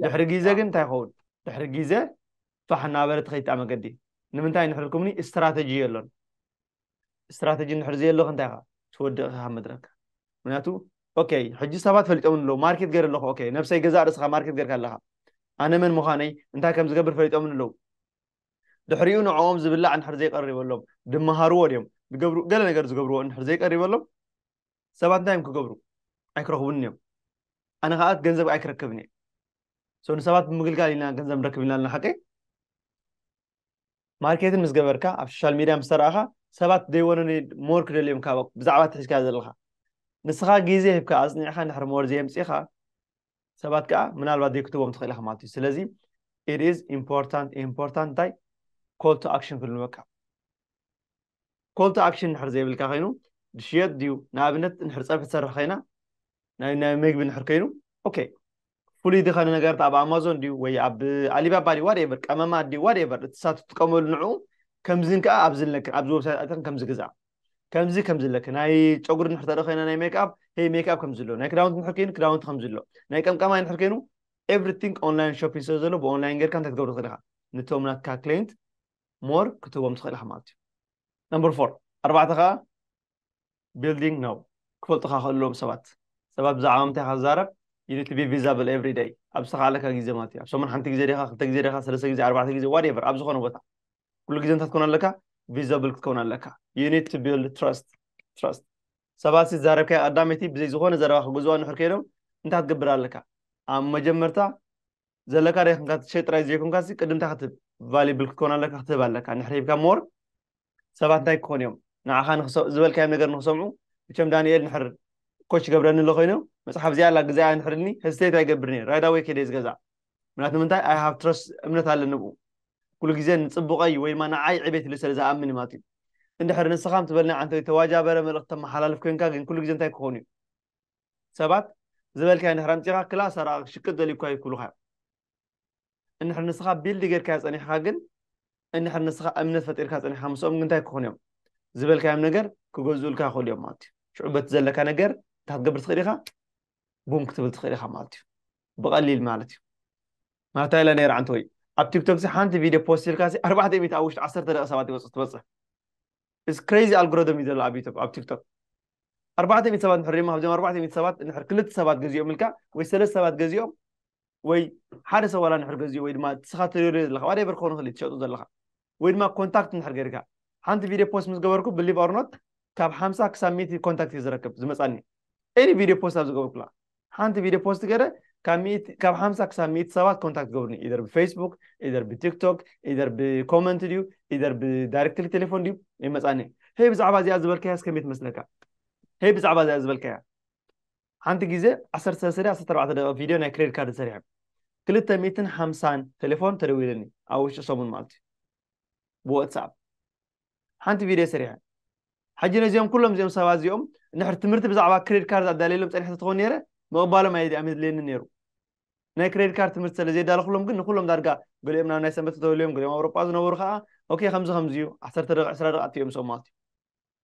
ድሕሪ ግዜ ግን እንታይ ይኸውን ድሕሪ ግዜ ፋሕ እናበለ ትኸይድ መገዲ ንምንታይ ንሕርኩምኒ ስትራተጂ የሎን ስትራተጂ እንድሕር ዘየሎካ እንታይ ኢኻ ትወድቕ ኢኻ ካብ መድረክ ምክንያቱ ኦኬ ሕጂ ሰባት ፈሊጦም ኣለዉ ማርኬት ገይረ ኣለኹ ኦኬ ነብሰይ ገዛእ ርእስኻ ማርኬት ገይርካ ኣለኻ ኣነ መን ምዃነይ እንታይ ከም ዝገብር ፈሊጦም ኣለዉ ድሕሪኡ ንዕኦም ዝብላዕ እንድሕር ዘይቀሪበሎም ድመሃርዎ ድዮም ዝገብሩ ገለ ነገር ዝገብርዎ እንድሕር ዘይቀሪበሎም ሰባት እንታይ እዮም ክገብሩ ኣይክረኽቡን እዮም ኣነ ከዓ ገንዘብ ኣይክረክብን እየ ንሰባት ብምግልጋል ኢና ገንዘብ ንረክብ ኢና ኣለና ሓቀይ ማርኬትን ምስ ገበርካ ኣብ ሶሻል ሚድያ ምስ ተራእኻ ሰባት ዴይ ወነ ኒድ ሞር ክደልዮም ካብ ብዛዕባ እቲ ሒዝካዮ ዘለኻ ንስኻ ግዜ ሂብካ ኣጽኒዕኻ እንድሕር ሞር ዘየምጺኻ ሰባት ከኣ ምናልባት ዴይ ክትህቦም ትኽእል ኢኻ ማለት እዩ ስለዚ ኢት ኢዝ ኢምፖርታንት ኢምፖርታንት እንታይ ኮል ቱ ኣክሽን ክብሉ በቃ ኮል ቱ ኣክሽን እንድሕር ዘይብልካ ኮይኑ ዝሽየጥ ድዩ ንኣብነት እንድሕር ፀብሒ ትሰርሕ ኮይና ናይ ናይ ምግቢ እንድሕር ኮይኑ ኦኬ ፍሉይ ዝኸነ ነገርት ኣብ ኣማዞን ድዩ ወይ ኣብ ኣሊባባ ድዩ ዋትኤቨር ቀመማት ድዩ ዋትኤቨር እቲ ሳት ትጥቀመሉ ንዕኡ ከምዚን ከዓ ኣብዚ ኣለክን ኣብዚ ወብሳይት ኣተኽን ከምዚ ግዛ ከምዚ ከምዚ ኣለክ ናይ ጨጉሪ ንድሕር ተርኢ ኮይና ናይ ሜክኣፕ ሄይ ሜክኣፕ ከምዚ ኣሎ ናይ ክዳውንቲ ንድሕር ኮይኑ ክዳውንቲ ከምዚ ኣሎ ናይ ቀምቀማይ ንድሕር ኮይኑ ኤቭሪቲንግ ኦንላይን ሾፒንግ ስለ ዘሎ ብኦንላይን ጌርካ እንታይ ክትገብሮ ትኽእል ኢኻ ንቶም ናትካ ክሌንት ሞር ክትህቦም ትኽእል ኢኻ ማለት እዩ ነምበር ፎር ኣርባዕተ ከዓ ቢልዲንግ ነው ክፈልጡካ ከለዎም ሰባት ሰባት ብዛዕባ ምንታይ ኢኻ ዝዛረብ ዩኒት ቢ ቪዛብል ኤቭሪ ደይ ኣብ ዝተካኣለካ ግዜ ማለት እዩ ኣብ ሰሙን ሓንቲ ግዜ ዲኻ ክልተ ግዜ ዲኻ ሰለስተ ግዜ ኣርባዕተ ግዜ ዋትኤቨር ኣብ ዝኾነ ቦታ ኩሉ ግዜ እንታይ ትኮን ኣለካ ቪዛብል ክትከውን ኣለካ ዩኒት ቱ ቢልድ ትረስት ትረስት ሰባት ዝዛረብካዮ ቀዳመይቲ ብዘይ ዝኾነ ዘረባ ክገዝዋ ንሕር ከይዶም እንታይ ትገብር ኣለካ ኣብ መጀመርታ ዘለካ ደይኮንካ ትሸጥ ጥራይ ዘይኮንካሲ ቅድም እንታይ ክትብ ቫሊብል ክትኮን ኣለካ ክትህብ ኣለካ ንሕሪ ሂብካ ሞር ሰባት እንታይ ክኾኑ እዮም ንዓኻ ዝበልካዮም ነገር ንክሰምዑ እቸም ዳንኤል ንሕር ኮች ገብረኒ ኣሎ ኮይኑ መፅሓፍ እዚኣ ኣላ ግዜ ንሕርኒ ህዝተየት ኣይገብር ነር ራይዳ ወይ ከደ ዝገዛእ ምክንያቱ ምንታይ ኣይ ሃብ ትረስ እምነት ኣለ ንብኡ ኩሉ ግዜ ንፅቡቀይ ወይ ድማ ንዓይ ዕቤት ኢሉ ስለ ዝኣምን ማለት እዩ እንድሕር ንስኻም ትበልና ዓንተ ተዋጃበረ መልእክቲ ተመሓላልፍ ኮንካ ግን ኩሉ ግዜ እንታይ ክኾኑ እዩ ሰባት ዝበልካዮ እንድሕር ኣምጺኻ ክላ ሰራቂ ክሽቅጥ ደልዩ እኳ እዩ ክብሉኻ እዮም እንድሕር ንስኻ ቢልድ ጌርካዮ ጸኒሕካ ግን እንድሕር ንስኻ እምነት ፈጢርካ ጸኒሕካ ምስኦም ግን እንታይ ክኾኑ እዮም ዝበልካዮም ነገር ክገዝኡልካ ይኽእሉ እዮም ማለት እዩ ሽዑ በቲ ዘለካ ነገር እንታይ ክትገብር ትኽእል ኢኻ ቡም ክትብል ትኽእል ኢኻ ማለት እዩ ብቐሊል ማለት እዩ ማለት ኢለ ነይረ ዓንተ ወይ ኣብ ቲክቶክ ሓንቲ ቪድዮ ፖስት ኢልካ ኣርባዕተ ሚእቲ ኣብ ውሽጢ ዓሰርተ ደቂ ሰባት ይበፅሕ ትበፅሕ እዚ ክረይዚ ኣልግሮደም እዩ ዘሎ ኣብ ዩቱብ ኣብ ቲክቶክ ኣርባዕተ ሚእቲ ሰባት ንሕር እሞ ካብዚኦም ኣርባዕተ ሚእቲ ሰባት ንሕር ክልተ ሰባት ገዚኦም ኢልካ ወይ ሰለስተ ሰባት ገዚኦም ወይ ሓደ ሰብ ዋላ ንሕር ገዚኡ ወይ ድማ ንስኻ ተደርዮ ዘለካ ዋደበር ክኾኑ ክእል ትሸጡ ዘለካ ወይ ድማ ኮንታክት ንሕር ገይርካ ሓንቲ ቪድዮ ፖስት ምስ ገበርኩ ብሊቭ ኦርኖት ካብ ሓምሳ ክሳብ ሚእቲ ኮንታክት እዩ ዝረክብ ዝመፃኒ ኤኒ ቪድዮ ፖስት ኣብ ዝገበርኩላ ሓንቲ ቪድዮ ፖስት ገረ ካብ ሓምሳ ክሳብ ሚእቲ ሰባት ኮንታክት ገብሩኒ ኢደር ብፌስቡክ ኢደር ብቲክቶክ ኢደር ብኮመንት ድዩ ኢደር ብዳይሬክትሊ ቴሌፎን ድዩ ይመፃኒ ሄይ ብዛዕባ እዚኣ ዝበልካያ እስከ ከመይ ትመስለካ ሄይ ብዛዕባ እዚኣ ዝበልካያ ሓንቲ ግዜ ዓሰርተ ሰለስተ ድያ ዓሰርተ ኣርባዕተ ደቂቕ ቪድዮ ናይ ክሬዲት ካርድ ሰሪሐ ክልተ ሚእትን ሓምሳን ቴሌፎን ተደዊለኒ ኣብ ውሽጢ ሰሙን ማለት እዩ ብዋትስኣፕ ሓንቲ ቪድዮ ሰሪሐ ሕጂ ነዚኦም ኩሎም እዚኦም ሰባት እዚኦም ንሕር ትምህርቲ ብዛዕባ ክሬዲት ካርድ ኣዳልየሎም ፀኒሐ ተትኾን ነይረ ምቕባሎም ኣየድልየኒ ነይሩ ናይ ክሬዲት ካርድ ትምህርቲ ስለ ዘየዳለኹሎም ግን ንኩሎም ዳርጋ ገሊኦም ናብ ናይ ሰንበት ተተውልዮም ገሊኦም ኣውሮጳ ዝነበሩ ከዓ ኦኬ ከምዚ ከምዚ እዩ ዓሰርተ ደቂ ዕስራ ደቂ ኣትዮም ሰው ማለት እዩ